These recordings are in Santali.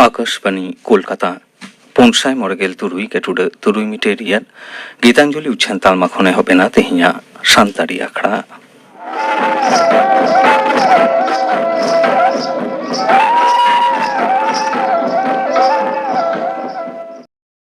ᱟᱠᱟᱥᱵᱟᱱᱤ ᱠᱳᱞᱠᱟᱛᱟ ᱯᱩᱱ ᱥᱟᱭ ᱢᱚᱬᱮ ᱜᱮᱞ ᱛᱩᱨᱩᱭ ᱜᱮᱴᱩᱰᱟᱹ ᱛᱩᱨᱩᱭ ᱢᱤᱴᱮᱨ ᱨᱮᱭᱟᱜ ᱜᱤᱛᱟᱧᱡᱚᱞᱤ ᱩᱪᱷᱟᱹᱱ ᱛᱟᱞᱢᱟ ᱠᱷᱚᱱ ᱮᱦᱚᱵ ᱮᱱᱟ ᱛᱮᱦᱮᱧᱟᱜ ᱥᱟᱱᱛᱟᱲᱤ ᱟᱠᱷᱲᱟ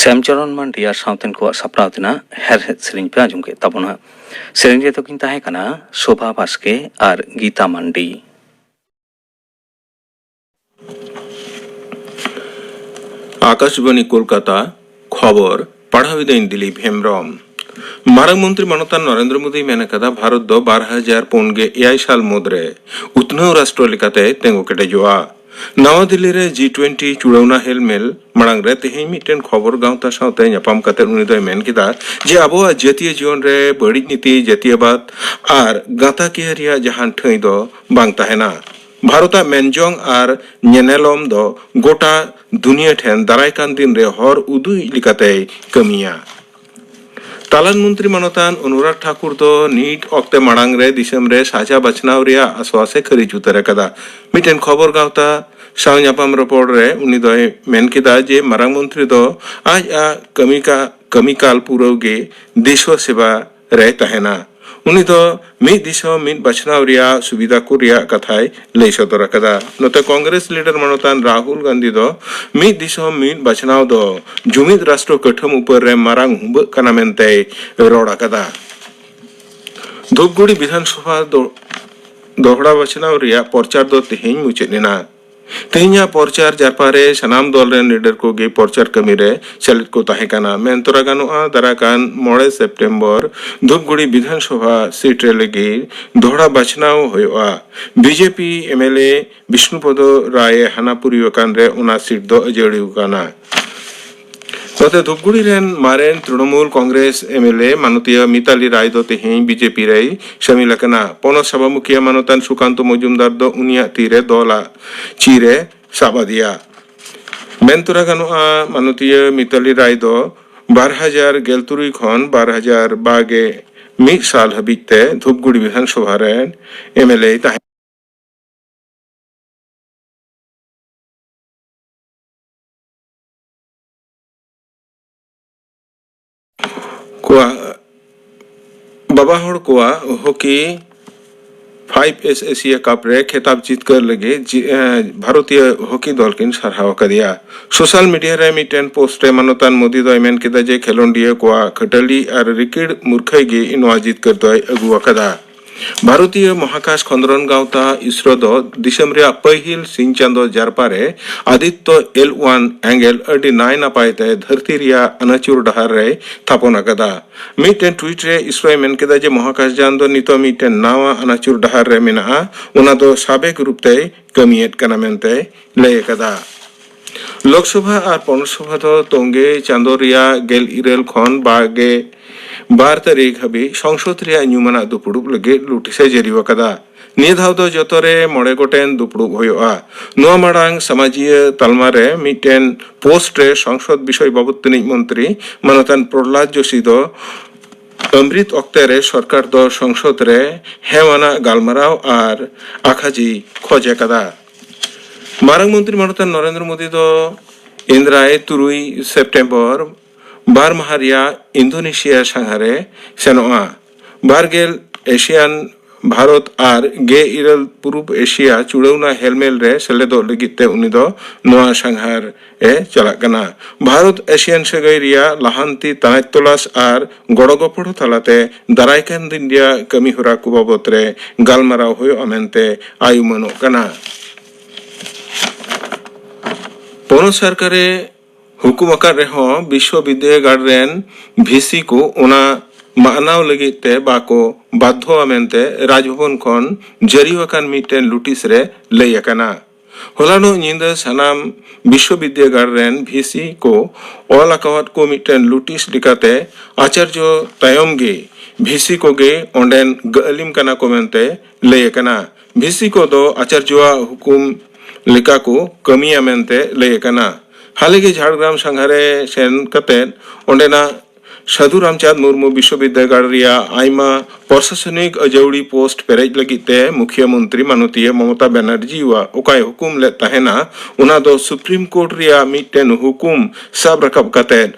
ᱥᱮᱢᱪᱚᱨᱚᱱ ᱢᱟᱱᱰᱤ ᱟᱨ ᱥᱟᱶᱛᱮᱱ ᱠᱚᱣᱟᱜ ᱥᱟᱯᱲᱟᱣ ᱛᱮᱱᱟᱜ ᱦᱮᱨᱦᱮᱫ ᱥᱮᱨᱮᱧ ᱯᱮ ᱟᱸᱡᱚᱢ ᱠᱮᱫ ᱛᱟᱵᱚᱱᱟ ᱥᱮᱨᱮᱧ ᱨᱮᱫᱚ ᱠᱤᱱ ᱛᱟᱦᱮᱸ ᱠᱟᱱᱟ ᱥᱳᱵᱷᱟ ᱵᱟᱥᱠᱮ ᱟᱨ ᱜᱤᱛᱟ ᱢᱟᱱᱰᱤ ᱟᱠᱟᱥᱵᱟᱱᱤ ᱠᱳᱞᱠᱟᱛᱟ ᱠᱷᱚᱵᱚᱨ ᱯᱟᱲᱦᱟᱣ ᱤᱫᱟᱹᱧ ᱫᱤᱞᱤᱯ ᱦᱮᱢᱵᱨᱚᱢ ᱢᱟᱨᱟᱝ ᱢᱚᱱᱛᱨᱤ ᱢᱟᱱᱚᱛᱟᱱ ᱱᱚᱨᱮᱱᱫᱨᱚ ᱢᱳᱫᱤᱭ ᱢᱮᱱ ᱟᱠᱟᱫᱟ ᱵᱷᱟᱨᱚᱛ ᱫᱚ ᱵᱟᱨ ᱦᱟᱡᱟᱨ ᱯᱩᱱ ᱜᱮ ᱮᱭᱟᱭ ᱥᱟᱞ ᱢᱩᱫᱽᱨᱮ ᱩᱛᱱᱟᱹᱣ ᱨᱟᱥᱴᱨᱚ ᱞᱮᱠᱟᱛᱮ ᱛᱮᱸᱜᱚ ᱠᱮᱴᱮᱡᱚᱜᱼᱟ ᱱᱟᱣᱟ ᱫᱤᱞᱞᱤ ᱨᱮ ᱡᱤ ᱴᱩᱭᱮᱱᱴᱤ ᱪᱩᱲᱟᱹᱣᱱᱟ ᱦᱮᱞᱢᱮᱞ ᱢᱟᱲᱟᱝ ᱨᱮ ᱛᱮᱦᱮᱧ ᱢᱤᱫᱴᱮᱱ ᱠᱷᱚᱵᱚᱨ ᱜᱟᱶᱛᱟ ᱥᱟᱶᱛᱮ ᱧᱟᱯᱟᱢ ᱠᱟᱛᱮ ᱩᱱᱤ ᱫᱚᱭ ᱢᱮᱱ ᱠᱮᱫᱟ ᱡᱮ ᱟᱵᱚᱣᱟᱜ ᱡᱟᱹᱛᱤᱭᱟᱹ ᱡᱤᱭᱚᱱ ᱨᱮ ᱵᱟᱹᱲᱤᱡ ᱱᱤᱛᱤ ᱡᱟᱹᱛᱤᱭᱟᱹᱵᱟᱫᱽ ᱟᱨ ᱜᱟᱸᱛᱟᱠᱤᱭᱟᱹ ᱨᱮᱭᱟᱜ ᱡᱟᱦᱟᱱ ᱴᱷᱟᱹᱭ ᱫᱚ ᱵᱟᱝ ᱛᱟᱦᱮᱱᱟ ᱵᱷᱟᱨᱚᱛ ᱟᱜ ᱢᱮᱱᱡᱚᱝ ᱟᱨ ᱧᱮᱱᱮᱞᱚᱢ ᱫᱚ ᱜᱚᱴᱟ ᱫᱩᱱᱤᱭᱟᱹ ᱴᱷᱮᱱ ᱫᱟᱨᱟᱭ ᱠᱟᱱ ᱫᱤᱱ ᱨᱮ ᱦᱚᱨ ᱩᱫᱩᱜᱤᱡ ᱞᱮᱠᱟᱛᱮᱭ ᱠᱟᱹᱢᱤᱭᱟ᱾ ᱛᱟᱞᱟᱱ ᱢᱚᱱᱛᱨᱤ ᱢᱟᱱᱚᱛᱟᱱ ᱚᱱᱩᱨᱟᱜᱽ ᱴᱷᱟᱠᱩᱨ ᱫᱚ ᱱᱤᱴ ᱚᱠᱛᱮ ᱢᱟᱲᱟᱝ ᱨᱮ ᱫᱤᱥᱚᱢ ᱨᱮ ᱥᱟᱡᱷᱟ ᱵᱟᱪᱷᱱᱟᱣ ᱨᱮᱭᱟᱜ ᱟᱥᱣᱟᱥ ᱮ ᱠᱷᱟᱹᱨᱤᱡ ᱩᱛᱟᱹᱨ ᱟᱠᱟᱫᱟ᱾ ᱢᱤᱫᱴᱮᱱ ᱠᱷᱚᱵᱚᱨ ᱜᱟᱶᱛᱟ ᱥᱟᱶ ᱧᱟᱯᱟᱢ ᱨᱚᱯᱚᱲ ᱨᱮ ᱩᱱᱤ ᱫᱚᱭ ᱢᱮᱱ ᱠᱮᱫᱟ ᱡᱮ ᱢᱟᱨᱟᱝ ᱢᱚᱱᱛᱨᱤ ᱫᱚ ᱟᱡ ᱟᱜ ᱠᱟᱹᱢᱤ ᱠᱟᱜ ᱠᱟᱹᱢᱤ ᱠᱟᱞ ᱯᱩᱨᱟᱹᱣ ᱜᱮ ᱫᱮᱥᱣᱟᱹ ᱥᱮᱵᱟ ᱨᱮᱭ ᱛᱟᱦᱮᱱᱟ᱾ ᱩᱱᱤ ᱫᱚ ᱢᱤᱫ ᱫᱤᱥᱚᱢ ᱢᱤᱫ ᱵᱟᱪᱷᱱᱟᱣ ᱨᱮᱭᱟᱜ ᱥᱩᱵᱤᱫᱷᱟ ᱠᱚ ᱨᱮᱭᱟᱜ ᱠᱟᱛᱷᱟᱭ ᱞᱟᱹᱭ ᱥᱚᱫᱚᱨ ᱟᱠᱟᱫᱟ᱾ ᱱᱚᱛᱮ ᱠᱚᱝᱜᱨᱮᱥ ᱞᱤᱰᱟᱨ ᱢᱟᱱᱚᱛᱟᱱ ᱨᱟᱦᱩᱞ ᱜᱟᱱᱫᱷᱤ ᱫᱚ ᱢᱤᱫ ᱫᱤᱥᱚᱢ ᱢᱤᱫ ᱵᱟᱪᱷᱱᱟᱣ ᱫᱚ ᱡᱩᱢᱤᱫ ᱨᱟᱥᱴᱨᱚ ᱠᱟᱹᱴᱷᱟᱹᱢ ᱩᱯᱟᱹᱨ ᱨᱮ ᱢᱟᱨᱟᱝ ᱦᱩᱢᱵᱟᱹᱜ ᱠᱟᱱᱟ ᱢᱮᱱᱛᱮᱭ ᱨᱚᱲ ᱟᱠᱟᱫᱟ᱾ ᱫᱷᱩᱯᱜᱩᱲᱤ ᱵᱤᱫᱷᱟᱱᱥᱚᱵᱷᱟ ᱫᱚᱦᱲᱟ ᱵᱟᱪᱷᱱᱟᱣ ᱨᱮᱭᱟᱜ ᱯᱚᱨᱪᱟᱨ ᱫᱚ ᱛᱮᱦᱮᱧ ᱢᱩᱪᱟᱹᱫ ᱮᱱᱟ᱾ ᱛᱮᱦᱮᱧᱟᱜ ᱯᱚᱨᱪᱟᱨ ᱡᱟᱨᱯᱟ ᱨᱮ ᱥᱟᱱᱟᱢ ᱫᱚᱞ ᱨᱮᱱ ᱞᱤᱰᱟᱨ ᱠᱚ ᱜᱮ ᱯᱚᱨᱪᱟᱨ ᱠᱟᱹᱢᱤ ᱨᱮ ᱥᱮᱞᱮᱫ ᱠᱚ ᱛᱟᱦᱮᱸ ᱠᱟᱱᱟ ᱢᱮᱱ ᱛᱚᱨᱟ ᱜᱟᱱᱚᱜᱼᱟ ᱫᱟᱨᱟᱭ ᱠᱟᱱ ᱢᱚᱬᱮ ᱥᱮᱯᱴᱮᱢᱵᱚᱨ ᱫᱷᱩᱯᱜᱩᱲᱤ ᱵᱤᱫᱷᱟᱱᱥᱚᱵᱷᱟ ᱥᱤᱴ ᱨᱮ ᱞᱟᱹᱜᱤᱫ ᱫᱚᱦᱲᱟ ᱵᱟᱪᱷᱱᱟᱣ ᱦᱩᱭᱩᱜᱼᱟ ᱵᱤᱡᱮᱯᱤ ᱮᱢᱮᱞᱮ ᱵᱤᱥᱱᱩᱯᱚᱫᱚ ᱨᱟᱭ ᱮ ᱦᱟᱱᱟᱯᱩᱨᱤ ᱟᱠᱟᱱ ᱨᱮ ᱚᱱᱟ ᱥᱤᱴ ᱫᱚ ᱟᱹᱡᱟᱹᱲᱤ ᱟᱠᱟᱱᱟ ᱱᱚᱛᱮ ᱫᱷᱩᱯᱜᱩᱲᱤ ᱨᱮᱱ ᱢᱟᱨᱮᱱ ᱛᱨᱤᱱᱚᱢᱩᱞ ᱠᱚᱝᱜᱨᱮᱥ ᱮᱢᱮᱞᱮ ᱢᱟᱱᱚᱛᱤᱭᱟᱹ ᱢᱤᱛᱟᱞᱤ ᱨᱟᱭ ᱫᱚ ᱛᱮᱦᱮᱧ ᱵᱤᱡᱮᱯᱤ ᱨᱮᱭ ᱥᱟᱹᱢᱤᱞ ᱟᱠᱟᱱᱟ᱾ ᱯᱚᱱᱚᱛ ᱥᱟᱵᱷᱟ ᱢᱩᱠᱷᱤᱭᱟᱹ ᱢᱟᱱᱚᱛᱟᱱ ᱥᱩᱠᱟᱱᱛᱚ ᱢᱚᱡᱩᱢᱫᱟᱨ ᱫᱚ ᱩᱱᱤᱭᱟᱜ ᱛᱤ ᱨᱮ ᱫᱚᱞ ᱟᱜ ᱪᱤᱨ ᱮ ᱥᱟᱵ ᱟᱫᱮᱭᱟ᱾ ᱢᱮᱱ ᱛᱚᱨᱟ ᱜᱟᱱᱚᱜᱼᱟ ᱢᱟᱱᱚᱛᱤᱭᱟᱹ ᱢᱤᱛᱟᱞᱤ ᱨᱟᱭ ᱫᱚ ᱵᱟᱨ ᱦᱟᱡᱟᱨ ᱜᱮᱞ ᱛᱩᱨᱩᱭ ᱠᱷᱚᱱ ᱵᱟᱨ ᱦᱟᱡᱟᱨ ᱵᱟᱜᱮ ᱢᱤᱫ ᱥᱟᱞ ᱦᱟᱹᱵᱤᱡ ᱛᱮ ᱫᱷᱩᱯᱜᱩᱲᱤ ᱵᱤᱫᱷᱟᱱ ᱥᱚᱵᱷᱟ ᱨᱮᱱ ᱮᱢᱮᱞᱮᱭ ᱛᱟᱦᱮᱸ ᱠᱟᱱᱟ᱾ ᱠᱚᱣᱟᱜ ᱵᱟᱵᱟ ᱦᱚᱲ ᱠᱚᱣᱟᱜ hockey fives Asia Cup ᱨᱮ ᱠᱷᱮᱛᱟᱵ ᱡᱤᱛᱠᱟᱹᱨ ᱞᱟᱹᱜᱤᱫ ᱡᱤ- ᱮ, ᱵᱷᱟᱨᱚᱛᱤᱭᱚ ᱦᱚᱠᱤ ᱫᱚᱞ ᱠᱤᱱ ᱥᱟᱨᱦᱟᱣ ᱟᱠᱟᱫᱮᱭᱟ ᱥᱳᱥᱟᱞ ᱢᱤᱰᱤᱭᱟ ᱨᱮ ᱢᱤᱫᱴᱮᱱ ᱯᱳᱥᱴ ᱨᱮ ᱢᱟᱱᱚᱛᱟᱱ ᱢᱳᱫᱤ ᱫᱚᱭ ᱢᱮᱱ ᱠᱮᱫᱟ ᱡᱮ ᱠᱷᱮᱞᱳᱰᱤᱭᱟᱹ ᱠᱚᱣᱟᱜ ᱠᱷᱟᱹᱴᱟᱹᱞᱤ ᱟᱨ ᱨᱤᱠᱤᱲ ᱢᱩᱨᱠᱷᱟᱹᱭ ᱜᱮ ᱱᱚᱣᱟ ᱡᱤᱛᱠᱟᱹᱨ ᱫᱚᱭ ᱟᱹᱜᱩ ᱟᱠᱟᱫᱟ ᱵᱷᱟᱨᱚᱛᱤᱭᱚ ᱢᱚᱦᱟᱠᱟᱥ ᱠᱷᱚᱸᱫᱽᱨᱚᱱ ᱜᱟᱶᱛᱟ, ᱤᱥᱨᱳ, ᱫᱚ ᱫᱤᱥᱚᱢ ᱨᱮᱭᱟᱜ ᱯᱟᱹᱦᱤᱞ ᱥᱤᱧ ᱪᱟᱸᱫᱚ ᱡᱟᱨᱯᱟ ᱨᱮ ᱟᱫᱤᱛᱛᱚ ᱮᱞ ᱳᱣᱟᱱ ᱮᱸᱜᱮᱞ ᱟᱹᱰᱤ ᱱᱟᱭ ᱱᱟᱯᱟᱭ ᱛᱮ ᱫᱷᱟᱹᱨᱛᱤ ᱨᱮᱭᱟᱜ ᱟᱹᱱᱟᱹᱪᱩᱨ ᱰᱟᱦᱟᱨ ᱨᱮᱭ ᱛᱷᱟᱯᱚᱱ ᱟᱠᱟᱫᱟ᱾ ᱢᱤᱫᱴᱮᱱ ᱴᱩᱭᱤᱴ ᱨᱮ ᱤᱥᱨᱳᱭ ᱢᱮᱱ ᱠᱮᱫᱟ ᱡᱮ ᱢᱚᱦᱟᱠᱟᱥᱡᱟᱱ ᱫᱚ ᱱᱤᱛᱚᱜ ᱢᱤᱫᱴᱮᱱ ᱱᱟᱶᱟ ᱟᱹᱱᱟᱹᱪᱩᱨ ᱰᱟᱦᱟᱨ ᱨᱮ ᱢᱮᱱᱟᱜᱼᱟ, ᱚᱱᱟ ᱫᱚ ᱥᱟᱵᱮᱠ ᱨᱩᱯ ᱛᱮᱭ ᱠᱟᱹᱢᱤ ᱮᱫ ᱠᱟᱱᱟ ᱢᱮᱱᱛᱮᱭ ᱞᱟᱹᱭ ᱟᱠᱟᱫᱟ᱾ ᱞᱳᱠᱥᱚᱵᱷᱟ ᱟᱨ ᱯᱚᱱᱚᱛ ᱥᱚᱵᱷᱟ ᱫᱚ ᱛᱚᱝᱜᱮ ᱪᱟᱸᱫᱚ ᱨᱮᱭᱟᱜ ᱜᱮᱞ ᱤᱨᱟᱹᱞ ᱠᱷᱚᱱ ᱵᱟᱜᱮ ᱵᱟᱨ ᱛᱟᱹᱨᱤᱠᱷ ᱦᱟᱹᱵᱤᱡ ᱥᱚᱝᱥᱚᱫᱽ ᱨᱮᱭᱟᱜ ᱧᱩᱢᱟᱱᱟᱜ ᱫᱩᱯᱩᱲᱩᱵ ᱞᱟᱹᱜᱤᱫ ᱞᱩᱴᱤᱥ ᱮ ᱡᱟᱹᱨᱤ ᱟᱠᱟᱫᱟ᱾ ᱱᱤᱭᱟᱹ ᱫᱷᱟᱣ ᱫᱚ ᱡᱚᱛᱚ ᱨᱮ ᱢᱚᱬᱮ ᱜᱚᱴᱮᱱ ᱫᱩᱯᱩᱲᱩᱵ ᱦᱳᱭᱳᱜᱼᱟ᱾ ᱱᱚᱣᱟ ᱢᱟᱲᱟᱝ ᱥᱟᱢᱟᱡᱤᱭᱟᱹ ᱛᱟᱞᱢᱟ ᱨᱮ ᱢᱤᱫᱴᱮᱱ ᱯᱳᱥᱴ ᱨᱮ ᱥᱚᱝᱥᱚᱫᱽ ᱵᱤᱥᱚᱭ ᱵᱟᱵᱚᱛ ᱛᱟᱹᱱᱤᱡ ᱢᱚᱱᱛᱨᱤ ᱢᱟᱱᱚᱛᱟᱱ ᱯᱨᱚᱦᱞᱟᱫᱽ ᱡᱳᱥᱤ ᱫᱚ ᱟᱢᱨᱤᱛ ᱚᱠᱛᱮ ᱨᱮ ᱥᱚᱨᱠᱟᱨ ᱫᱚ ᱥᱚᱝᱥᱚᱫᱽ ᱨᱮ ᱦᱮᱣᱟᱱᱟᱜ ᱜᱟᱞᱢᱟᱨᱟᱣ ᱟᱨ ᱟᱠᱷᱟᱡᱤᱭ ᱠᱷᱚᱡᱽ ᱟᱠᱟᱫᱟ᱾ ᱢᱟᱨᱟᱝ ᱢᱚᱱᱛᱨᱤ ᱢᱟᱱᱚᱛᱟᱱ ᱱᱚᱨᱮᱱᱫᱨᱚ ᱢᱳᱫᱤ ᱫᱚ ᱮᱱᱫᱨᱟᱭ ᱛᱩᱨᱩᱭ ᱥᱮᱯᱴᱮᱢᱵᱚᱨ ᱵᱟᱨ ᱢᱟᱦᱟ ᱨᱮᱭᱟᱜ ᱤᱱᱫᱳᱱᱮᱥᱤᱭᱟ ᱥᱟᱸᱜᱷᱟᱨᱮ ᱥᱮᱱᱚᱜᱼᱟ ᱵᱟᱨᱜᱮᱞ ᱮᱥᱤᱭᱟᱱ ᱵᱷᱟᱨᱚᱛ ᱟᱨ ᱜᱮ ᱤᱨᱟᱹᱞ ᱯᱩᱨᱩᱵᱽ ᱮᱥᱤᱭᱟ ᱪᱩᱲᱟᱹᱣᱱᱟ ᱦᱮᱞᱢᱮᱞ ᱨᱮ ᱥᱮᱞᱮᱫᱚᱜ ᱞᱟᱹᱜᱤᱫ ᱛᱮ ᱩᱱᱤ ᱫᱚ ᱱᱚᱣᱟ ᱥᱟᱸᱜᱷᱟᱨ ᱮ ᱪᱟᱞᱟᱜ ᱠᱟᱱᱟ ᱵᱷᱟᱨᱚᱛ ᱮᱥᱤᱭᱟᱱ ᱥᱟᱹᱜᱟᱹᱭ ᱨᱮᱭᱟᱜ ᱞᱟᱦᱟᱱᱛᱤ ᱛᱟᱱᱟᱪ ᱛᱚᱞᱟᱥ ᱟᱨ ᱜᱚᱲᱚ ᱜᱚᱯᱚᱲᱚ ᱛᱟᱞᱟᱛᱮ ᱫᱟᱨᱟᱭ ᱠᱟᱱ ᱫᱤᱱ ᱨᱮᱭᱟᱜ ᱠᱟᱹᱢᱤ ᱦᱚᱨᱟ ᱠᱚ ᱵᱟᱵᱚᱛ ᱨᱮ ᱜᱟᱞᱢᱟᱨᱟᱣ ᱦᱩᱭᱩᱜᱼᱟ ᱢᱮᱱᱛᱮ ᱟᱭ ᱩᱢᱟᱹᱱᱚᱜ ᱠᱟᱱᱟ ᱯᱚᱱᱚᱛ ᱥᱚᱨᱠᱟᱨᱮ ᱦᱩᱠᱩᱢ ᱟᱠᱟᱫ ᱨᱮᱦᱚᱸ ᱵᱤᱥᱥᱚ ᱵᱤᱫᱽᱫᱟᱹᱜᱟᱲ ᱨᱮᱱ ᱵᱷᱤᱥᱤ ᱠᱚ ᱚᱱᱟ ᱢᱟᱱᱟᱣ ᱞᱟᱹᱜᱤᱫ ᱛᱮ ᱵᱟᱠᱚ ᱵᱟᱫᱽᱫᱷᱚᱣᱟ ᱢᱮᱱᱛᱮ ᱨᱟᱡᱽᱵᱷᱚᱵᱚᱱ ᱠᱷᱚᱱ ᱡᱟᱹᱨᱤ ᱟᱠᱟᱱ ᱢᱤᱫᱴᱮᱱ ᱞᱩᱴᱤᱥ ᱨᱮ ᱞᱟᱹᱭ ᱟᱠᱟᱱᱟ ᱦᱚᱞᱟᱱᱚᱜ ᱧᱤᱫᱟᱹ ᱥᱟᱱᱟᱢ ᱵᱤᱥᱥᱚᱵᱤᱫᱽᱭᱟᱹᱜᱟᱲ ᱨᱮᱱ ᱵᱷᱤᱥᱤ ᱠᱚ ᱚᱞ ᱟᱠᱟᱣᱟᱫ ᱠᱚ ᱢᱤᱫᱴᱮᱱ ᱞᱩᱴᱤᱥ ᱞᱮᱠᱟᱛᱮ ᱟᱪᱟᱨᱡᱚ ᱛᱟᱭᱚᱢ ᱜᱮ ᱵᱷᱤᱥᱤ ᱠᱚᱜᱮ ᱚᱸᱰᱮᱱ ᱜᱟᱹᱟᱹᱞᱤᱢ ᱠᱟᱱᱟ ᱠᱚ ᱢᱮᱱᱛᱮ ᱞᱟᱹᱭ ᱟᱠᱟᱱᱟ᱾ ᱵᱷᱤᱥᱤ ᱠᱚ ᱫᱚ ᱟᱪᱟᱨᱡᱚᱣᱟᱜ ᱦᱩᱠᱩᱢ ᱞᱮᱠᱟ ᱠᱚ ᱠᱟᱹᱢᱤᱭᱟ ᱢᱮᱱᱛᱮ ᱞᱟᱹᱭ ᱟᱠᱟᱱᱟ᱾ ᱦᱟᱞᱮ ᱜᱮ ᱡᱷᱟᱲᱜᱨᱟᱢ ᱥᱟᱸᱜᱷᱟᱨᱮ ᱥᱮᱱ ᱠᱟᱛᱮ ᱚᱸᱰᱮᱱᱟᱜ ᱥᱟᱹᱫᱷᱩ ᱨᱟᱢᱪᱟᱸᱫᱽ ᱢᱩᱨᱢᱩ ᱵᱤᱥᱥᱚᱵᱤᱫᱽᱫᱟᱹᱜᱟᱲ ᱨᱮᱭᱟᱜ ᱟᱭᱢᱟ ᱯᱨᱚᱥᱟᱥᱚᱱᱤᱠ ᱟᱹᱡᱟᱹᱣᱲᱤ ᱯᱳᱥᱴ ᱯᱮᱨᱮᱡ ᱞᱟᱹᱜᱤᱫ ᱛᱮ ᱢᱩᱠᱷᱤᱭᱟᱹ ᱢᱚᱱᱛᱨᱤ ᱢᱟᱱᱚᱛᱤᱭᱟᱹ ᱢᱚᱢᱚᱛᱟ ᱵᱮᱱᱟᱨᱡᱤᱣᱟᱜ ᱚᱠᱟᱭ ᱦᱩᱠᱩᱢ ᱞᱮᱫ ᱛᱟᱦᱮᱱᱟ ᱚᱱᱟ ᱫᱚ ᱥᱩᱯᱨᱤᱢ ᱠᱳᱨᱴ ᱨᱮᱭᱟᱜ ᱢᱤᱫᱴᱮᱱ ᱦᱩᱠᱩᱢ ᱥᱟᱵ ᱨᱟᱠᱟᱵ ᱠᱟᱛᱮ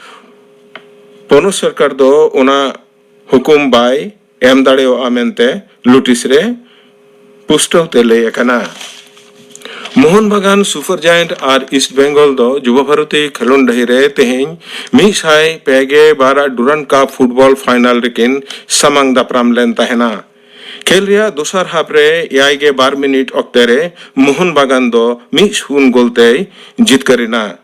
ᱯᱚᱱᱚᱛ ᱥᱚᱨᱠᱟᱨ ᱫᱚ ᱚᱱᱟ ᱦᱩᱠᱩᱢ ᱵᱟᱭ ᱮᱢ ᱫᱟᱲᱮᱭᱟᱜᱼᱟ ᱢᱮᱱᱛᱮ ᱱᱳᱴᱤᱥ ᱨᱮ ᱯᱩᱥᱴᱟᱹᱣ ᱛᱮ ᱞᱟᱹᱭ ᱟᱠᱟᱱᱟ ᱢᱳᱦᱚᱱ ᱵᱟᱜᱟᱱ ᱥᱩᱯᱟᱨ ᱡᱟᱭᱮᱱᱴ ᱟᱨ ᱤᱥᱴ ᱵᱮᱝᱜᱚᱞ ᱫᱚ ᱡᱩᱵᱟ ᱵᱷᱟᱨᱚᱛᱤ ᱠᱷᱮᱞᱳᱰ ᱰᱟᱹᱦᱤ ᱨᱮ ᱛᱮᱦᱮᱧ ᱢᱤᱫ ᱥᱟᱭ ᱯᱮᱜᱮ ᱵᱟᱨ ᱟᱜ ᱰᱩᱨᱟᱱ ᱠᱟᱯ ᱯᱷᱩᱴᱵᱚᱞ ᱯᱷᱟᱭᱱᱟᱞ ᱨᱮᱠᱤᱱ ᱥᱟᱢᱟᱝ ᱫᱟᱯᱨᱟᱢ ᱞᱮᱱ ᱛᱟᱦᱮᱱᱟ ᱠᱷᱮᱞ ᱨᱮᱭᱟᱜ ᱫᱚᱥᱟᱨ ᱦᱟᱯ ᱨᱮ ᱮᱭᱟᱭ ᱜᱮ ᱵᱟᱨ ᱢᱤᱱᱤᱴ ᱚᱠᱛᱮ ᱨᱮ ᱢᱳᱦᱚᱱ ᱵᱟᱜᱟᱱ ᱫᱚ ᱢᱤᱫ ᱥᱩᱱ ᱜᱳᱞ ᱛᱮᱭ ᱡᱤᱛᱠᱟᱹᱨ ᱮᱱᱟ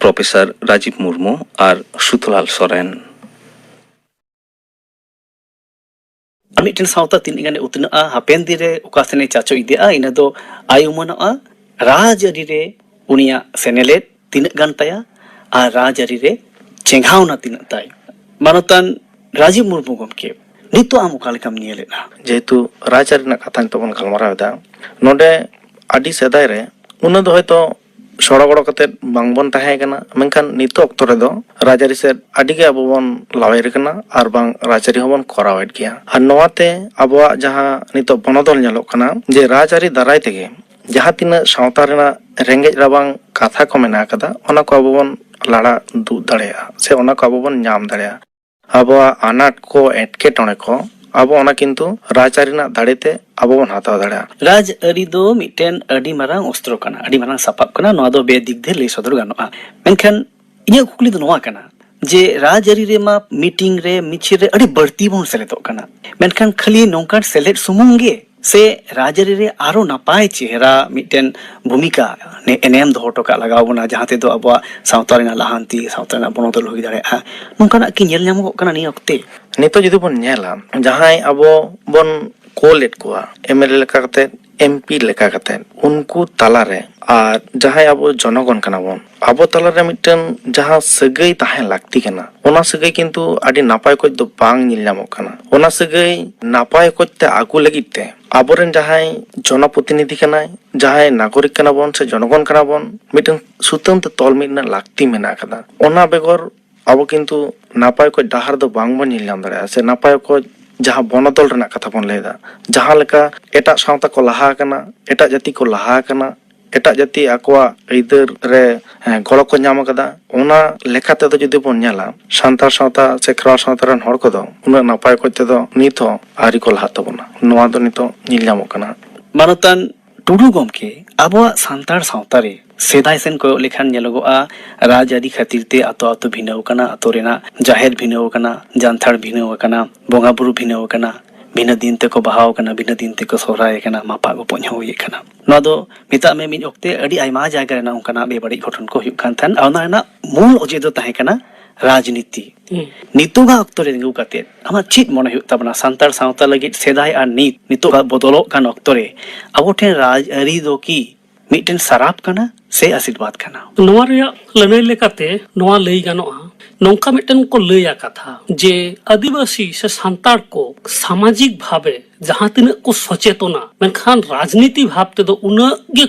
ᱯᱨᱚᱯᱷᱮᱥᱚᱨ ᱨᱟᱡᱤᱵᱽ ᱢᱩᱨᱢᱩ ᱟᱨ ᱥᱩᱛᱷᱞᱟᱞ ᱥᱚᱨᱮᱱ ᱢᱤᱫᱴᱮᱱ ᱥᱟᱶᱛᱟ ᱛᱤᱱᱟᱹᱜ ᱜᱟᱱᱮ ᱩᱛᱱᱟᱹᱜᱼᱟ ᱦᱟᱯᱮᱱ ᱫᱤᱱ ᱨᱮ ᱚᱠᱟ ᱥᱮᱱᱮ ᱪᱟᱪᱚ ᱤᱫᱤᱜᱼᱟ ᱤᱱᱟᱹ ᱫᱚ ᱟᱭ ᱩᱢᱟᱹᱱᱚᱜᱼᱟ ᱨᱟᱡᱽ ᱟᱹᱨᱤ ᱨᱮ ᱩᱱᱤᱭᱟᱜ ᱥᱮᱱᱮᱞᱮᱫ ᱛᱤᱱᱟᱹᱜ ᱜᱟᱱ ᱛᱟᱭᱟ ᱟᱨ ᱨᱟᱡᱽ ᱟᱹᱨᱤ ᱨᱮ ᱪᱮᱸᱜᱷᱟᱣᱱᱟ ᱛᱤᱱᱟᱹᱜ ᱛᱟᱭ ᱢᱟᱱᱚᱛᱟᱱ ᱨᱟᱡᱤᱵᱽ ᱢᱩᱨᱢᱩ ᱜᱚᱢᱠᱮ ᱱᱤᱛᱚᱜ ᱟᱢ ᱚᱠᱟ ᱞᱮᱠᱟᱢ ᱧᱮᱞᱮᱫᱼᱟ ᱡᱮᱦᱮᱛᱩ ᱨᱟᱡᱽ ᱟᱹᱨᱤ ᱨᱮᱱᱟᱜ ᱠᱟᱛᱷᱟ ᱱᱤᱛᱚᱜ ᱵᱚᱱ ᱜᱟᱞᱢᱟᱨᱟᱣ ᱮᱫᱟ ᱱᱚᱰᱮ ᱟᱹᱰᱤ ᱥᱮᱫᱟᱭ ᱨᱮ ᱩᱱᱟᱹᱜ ᱫᱚ ᱦᱚᱭᱛᱳ ᱥᱚᱲᱚ ᱜᱚᱲᱚ ᱠᱟᱛᱮ ᱵᱟᱝ ᱵᱚᱱ ᱛᱟᱦᱮᱸ ᱠᱟᱱᱟ ᱢᱮᱱᱠᱷᱟᱱ ᱱᱤᱛᱚᱜ ᱚᱠᱛᱚ ᱨᱮᱫᱚ ᱨᱟᱡᱽᱟᱹᱨᱤ ᱥᱮᱫ ᱟᱹᱰᱤ ᱜᱮ ᱟᱵᱚ ᱵᱚᱱ ᱞᱟᱣᱮᱨ ᱠᱟᱱᱟ ᱟᱨ ᱵᱟᱝ ᱨᱟᱡᱽᱟᱹᱨᱤ ᱦᱚᱸᱵᱚᱱ ᱠᱚᱨᱟᱣᱮᱫ ᱜᱮᱭᱟ ᱟᱨ ᱱᱚᱣᱟᱛᱮ ᱟᱵᱚᱣᱟᱜ ᱡᱟᱦᱟᱸ ᱱᱤᱛᱚᱜ ᱵᱚᱱᱚᱫᱚᱞ ᱧᱮᱞᱚᱜ ᱠᱟᱱᱟ ᱡᱮ ᱨᱟᱡᱽᱟᱹᱨᱤ ᱫᱟᱨᱟᱭ ᱛᱮᱜᱮ ᱡᱟᱦᱟᱸ ᱛᱤᱱᱟᱹᱜ ᱥᱟᱶᱛᱟ ᱨᱮᱱᱟᱜ ᱨᱮᱸᱜᱮᱡ ᱨᱟᱵᱟᱝ ᱠᱟᱛᱷᱟ ᱠᱚ ᱢᱮᱱᱟᱜ ᱠᱟᱫᱟ ᱚᱱᱟ ᱠᱚ ᱟᱵᱚ ᱵᱚᱱ ᱞᱟᱲᱟ ᱫᱩᱜ ᱫᱟᱲᱮᱭᱟᱜᱼᱟ ᱥᱮ ᱚᱱᱟ ᱠᱚ ᱟᱵᱚ ᱵᱚᱱ ᱧᱟᱢ ᱫᱟᱲᱮᱭᱟᱜᱼᱟ ᱟᱵᱚᱣᱟᱜ ᱟᱱᱟᱴ ᱠᱚ ᱮᱴᱠᱮᱴᱚᱬᱮ ᱠᱚ ᱟᱵᱚ ᱚᱱᱟ ᱠᱤᱱᱛᱩ ᱨᱟᱡᱽ ᱟᱹᱨᱤ ᱨᱮᱱᱟᱜ ᱫᱟᱲᱮ ᱛᱮ ᱟᱵᱚ ᱵᱚᱱ ᱦᱟᱛᱟᱣ ᱫᱟᱲᱮᱭᱟᱜᱼᱟ ᱨᱟᱡᱽ ᱟᱹᱨᱤ ᱫᱚ ᱢᱤᱫᱴᱮᱱ ᱟᱹᱰᱤ ᱢᱟᱨᱟᱝ ᱚᱥᱛᱨᱚ ᱠᱟᱱᱟ ᱟᱹᱰᱤ ᱢᱟᱨᱟᱝ ᱥᱟᱯᱟᱵ ᱠᱟᱱᱟ ᱱᱚᱣᱟ ᱫᱚ ᱵᱮ ᱫᱤᱠ ᱫᱤᱭᱮ ᱞᱟᱹᱭ ᱥᱚᱫᱚᱨ ᱜᱟᱱᱚᱜᱼᱟ ᱢᱮᱱᱠᱷᱟᱱ ᱤᱧᱟᱹᱜ ᱠᱩᱠᱞᱤ ᱫᱚ ᱱᱚᱣᱟ ᱠᱟᱱᱟ ᱡᱮ ᱨᱟᱡᱽ ᱟᱹᱨᱤ ᱨᱮᱢᱟ ᱢᱤᱴᱤᱝ ᱨᱮ ᱢᱤᱪᱷᱤᱞ ᱨᱮ ᱟᱹᱰᱤ ᱵᱟᱹᱲᱛᱤ ᱵᱚᱱ ᱥᱮᱞᱮᱫᱚᱜ ᱠᱟᱱᱟ ᱢᱮᱱᱠᱷᱟᱱ ᱠᱷᱟᱹᱞᱤ ᱱᱚᱝᱠᱟᱱ ᱥᱮᱞᱮᱫ ᱥᱩᱢᱩᱝ ᱜᱮ ᱥᱮ ᱨᱟᱡᱽᱟᱹᱨᱤ ᱨᱮ ᱟᱨᱚ ᱱᱟᱯᱟᱭ ᱪᱮᱦᱨᱟ ᱢᱤᱫᱴᱮᱱ ᱵᱷᱩᱢᱤᱠᱟ ᱮᱱᱮᱢ ᱫᱚᱦᱚ ᱦᱚᱴᱚ ᱠᱟᱜ ᱞᱟᱜᱟᱣ ᱵᱚᱱᱟ ᱡᱟᱦᱟᱸ ᱛᱮᱫᱚ ᱟᱵᱚᱣᱟᱜ ᱥᱟᱶᱛᱟ ᱨᱮᱱᱟᱜ ᱞᱟᱦᱟᱱᱛᱤ ᱥᱟᱶᱛᱟ ᱨᱮᱱᱟᱜ ᱵᱚᱱᱚᱫᱚᱞ ᱦᱩᱭ ᱫᱟᱲᱮᱭᱟᱜᱼᱟ ᱱᱚᱝᱠᱟᱱᱟᱜ ᱠᱤ ᱧᱮᱞ ᱧᱟᱢᱚᱜ ᱠᱟᱱᱟ ᱱᱤᱭᱟᱹ ᱚᱠᱛᱮ ᱱᱤᱛᱚᱜ ᱡᱩᱫᱤ ᱵᱚᱱ ᱧᱮᱞᱟ ᱡᱟᱦᱟᱸᱭ ᱟᱵᱚ ᱵᱚᱱ ᱠᱳᱞᱮᱫ ᱠᱚᱣᱟ ᱮᱢᱮᱞᱮ ᱞᱮᱠᱟ ᱠᱟᱛᱮ ᱮᱢᱯᱤ ᱞᱮᱠᱟ ᱠᱟᱛᱮ ᱩᱱᱠᱩ ᱛᱟᱞᱟᱨᱮ ᱟᱨ ᱡᱟᱦᱟᱸᱭ ᱟᱵᱚ ᱡᱚᱱᱚᱜᱚᱱ ᱠᱟᱱᱟ ᱵᱚᱱ ᱟᱵᱚ ᱛᱟᱞᱟᱨᱮ ᱢᱤᱫᱴᱮᱱ ᱡᱟᱦᱟᱸ ᱥᱟᱹᱜᱟᱹᱭ ᱛᱟᱦᱮᱸ ᱞᱟᱹᱠᱛᱤ ᱠᱟᱱᱟ ᱚᱱᱟ ᱥᱟᱹᱜᱟᱹᱭ ᱠᱤᱱᱛᱩ ᱟᱹᱰᱤ ᱱᱟᱯᱟᱭ ᱚᱠᱚᱡ ᱫᱚ ᱵᱟᱝ ᱧᱮᱞ ᱧᱟᱢᱚᱜ ᱠᱟᱱᱟ ᱚᱱᱟ ᱥᱟᱹᱜᱟᱹᱭ ᱱᱟᱯᱟᱭ ᱚᱠᱚᱡ ᱛᱮ ᱟᱹᱜᱩ ᱞᱟᱹᱜᱤᱫ ᱛᱮ ᱟᱵᱚᱨᱮᱱ ᱡᱟᱦᱟᱸᱭ ᱡᱚᱱᱚ ᱯᱨᱚᱛᱤᱱᱤᱫᱷᱤ ᱠᱟᱱᱟᱭ ᱡᱟᱦᱟᱸᱭ ᱱᱟᱜᱚᱨᱤᱠ ᱠᱟᱱᱟ ᱵᱚᱱ ᱥᱮ ᱡᱚᱱᱚᱜᱚᱱ ᱠᱟᱱᱟ ᱵᱚᱱ ᱢᱤᱫᱴᱮᱱ ᱥᱩᱛᱟᱹᱢ ᱛᱮ ᱛᱚᱞ ᱢᱤᱫ ᱨᱮᱱᱟᱜ ᱞᱟᱹᱠᱛᱤ ᱢᱮᱱᱟᱜ ᱟᱠᱟᱫᱟ ᱚᱱᱟ ᱵᱮᱜᱚᱨ ᱟᱵᱚ ᱠᱤᱱᱛᱩ ᱱᱟᱯᱟᱭ ᱚᱠᱚᱡ ᱰᱟᱦᱟᱨ ᱫᱚ ᱵᱟᱝ ᱵᱚᱱ ᱧᱮᱞ ᱧᱟᱢ ᱫᱟᱲᱮᱭᱟᱜᱼᱟ ᱥᱮ ᱱᱟᱯᱟᱭ ᱚᱠᱚᱡ ᱡᱟᱦᱟᱸ ᱵᱚᱱᱚᱫᱚᱞ ᱨᱮᱱᱟᱜ ᱠᱟᱛᱷᱟ ᱵᱚᱱ ᱞᱟᱹᱭ ᱮᱫᱟ ᱡᱟᱦᱟᱸ ᱞᱮᱠᱟ ᱮᱴᱟᱜ ᱥᱟᱶᱛᱟ ᱠᱚ ᱞᱟᱦᱟ ᱟᱠᱟᱱᱟ ᱮᱴᱟᱜ ᱡᱟᱹᱛᱤ ᱠᱚ ᱞᱟᱦᱟ ᱟᱠᱟᱱᱟ ᱮᱴᱟᱜ ᱡᱟᱹᱛᱤ ᱟᱠᱚᱣᱟᱜ ᱟᱹᱭᱫᱟᱹᱨ ᱨᱮ ᱜᱚᱲᱚ ᱠᱚ ᱧᱟᱢ ᱟᱠᱟᱫᱟ ᱚᱱᱟ ᱞᱮᱠᱟ ᱛᱮᱫᱚ ᱡᱩᱫᱤ ᱵᱚᱱ ᱧᱮᱞᱟ ᱥᱟᱱᱛᱟᱲ ᱥᱟᱶᱛᱟ ᱥᱮ ᱠᱷᱮᱨᱣᱟᱲ ᱥᱟᱶᱛᱟ ᱨᱮᱱ ᱦᱚᱲ ᱠᱚᱫᱚ ᱩᱱᱟᱹᱜ ᱱᱟᱯᱟᱭ ᱚᱠᱚᱡ ᱛᱮᱫᱚ ᱱᱤᱛ ᱦᱚᱸ ᱟᱹᱣᱨᱤ ᱠᱚ ᱞᱟᱦᱟᱜ ᱛᱟᱵᱚᱱᱟ ᱱᱚᱣᱟ ᱫᱚ ᱱᱤᱛᱚᱜ ᱧᱮᱞ ᱧᱟᱢᱚᱜ ᱠᱟᱱᱟ᱾ ᱢᱟᱱᱚᱛᱟᱱ ᱴᱩᱰᱩ ᱜᱚᱢᱠᱮ, ᱟᱵᱚᱣᱟᱜ ᱥᱟᱱᱛᱟᱲ ᱥᱟᱶᱛᱟ ᱨᱮ ᱥᱮᱫᱟᱭ ᱥᱮᱱ ᱠᱚᱭᱚᱜ ᱞᱮᱠᱷᱟᱱ ᱧᱮᱞᱚᱜᱚᱜᱼᱟ ᱨᱟᱡᱽᱟᱹᱨᱤ ᱠᱷᱟᱹᱛᱤᱨ ᱛᱮ ᱟᱛᱳ ᱟᱛᱳ ᱵᱷᱤᱱᱟᱹᱣ ᱟᱠᱟᱱᱟ, ᱟᱛᱳ ᱨᱮᱱᱟᱜ ᱡᱟᱦᱮᱨ ᱵᱷᱤᱱᱟᱹᱣ ᱟᱠᱟᱱᱟ, ᱡᱟᱱᱛᱷᱟᱲ ᱵᱷᱤᱱᱟᱹᱣ ᱟᱠᱟᱱᱟ, ᱵᱚᱸᱜᱟ ᱵᱩᱨᱩ ᱵᱷᱤᱱᱟᱹᱣ ᱟᱠᱟᱱᱟ, ᱵᱷᱤᱱᱟᱹ ᱫᱤᱱ ᱛᱮᱠᱚ ᱵᱟᱦᱟᱣ ᱟᱠᱟᱱᱟ, ᱵᱷᱤᱱᱟᱹ ᱫᱤᱱ ᱛᱮᱠᱚ ᱥᱚᱦᱨᱟᱭ ᱟᱠᱟᱱᱟ, ᱢᱟᱯᱟᱜ ᱜᱚᱯᱚᱡ ᱦᱚᱸ ᱦᱩᱭ ᱟᱠᱟᱱᱟ᱾ ᱱᱚᱣᱟ ᱫᱚ ᱢᱮᱛᱟᱜ ᱢᱮ ᱢᱤᱫ ᱚᱠᱛᱮ ᱟᱹᱰᱤ ᱟᱭᱢᱟ ᱡᱟᱭᱜᱟ ᱨᱮᱱᱟᱜ ᱚᱱᱠᱟᱱᱟᱜ ᱵᱮᱵᱟᱹᱲᱤᱡ ᱜᱷᱚᱴᱚᱱ ᱠᱚ ᱦᱩᱭᱩᱜ ᱠᱟᱱ ᱛᱟᱦᱮᱸᱱ ᱟᱨ ᱚᱱᱟ ᱨᱮᱱᱟᱜ ᱢᱩᱞ ᱚᱡᱮ ᱫᱚ ᱛᱟᱦᱮᱸ ᱠᱟᱱᱟ ᱨᱟᱡᱽᱱᱤᱛᱤ ᱱᱤᱛᱚᱜᱟᱜ ᱚᱠᱛᱚ ᱨᱮ ᱛᱤᱸᱜᱩ ᱠᱟᱛᱮ ᱟᱢᱟᱜ ᱪᱮᱫ ᱢᱚᱱᱮ ᱦᱩᱭᱩᱜ ᱛᱟᱵᱚᱱᱟ ᱥᱟᱱᱛᱟᱲ ᱥᱟᱶᱛᱟ ᱞᱟᱹᱜᱤᱫ ᱥᱮᱫᱟᱭ ᱟᱨ ᱱᱤᱛ ᱱᱤᱛᱚᱜᱟᱜ ᱵᱚᱫᱚᱞᱚᱜ ᱠᱟᱱ ᱚᱠᱛᱚ ᱨᱮ ᱟᱵᱚ ᱴᱷᱮᱱ ᱨᱟᱡᱽᱟᱹᱨᱤ ᱫᱚ ᱠᱤ ᱢᱤᱫᱴᱮᱱ ᱥᱟᱨᱟᱯ ᱠᱟᱱᱟ ᱥᱮ ᱟᱥᱤᱨᱵᱟᱫᱽ ᱠᱟᱱᱟ ᱱᱚᱣᱟ ᱨᱮᱭᱟᱜ ᱞᱟᱹᱱᱟᱹᱭ ᱞᱮᱠᱟᱛᱮ ᱱᱚᱣᱟ ᱞᱟᱹᱭ ᱜᱟᱱᱚᱜᱼᱟ ᱱᱚᱝᱠᱟ ᱢᱤᱫᱴᱮᱱ ᱠᱚ ᱞᱟᱹᱭᱟ ᱠᱟᱛᱷᱟ ᱡᱮ ᱟᱹᱫᱤᱵᱟᱹᱥᱤ ᱥᱮ ᱥᱟᱱᱛᱟᱲ ᱠᱚ ᱥᱟᱢᱟᱡᱤᱠ ᱵᱷᱟᱵᱮ ᱡᱟᱦᱟᱸ ᱛᱤᱱᱟᱹᱜ ᱠᱚ ᱥᱚᱪᱮᱛᱚᱱᱟ ᱢᱮᱱᱠᱷᱟᱱ ᱨᱟᱡᱽᱱᱤᱛᱤ ᱵᱷᱟᱵ ᱛᱮᱫᱚ ᱩᱱᱟᱹᱜ ᱜᱮ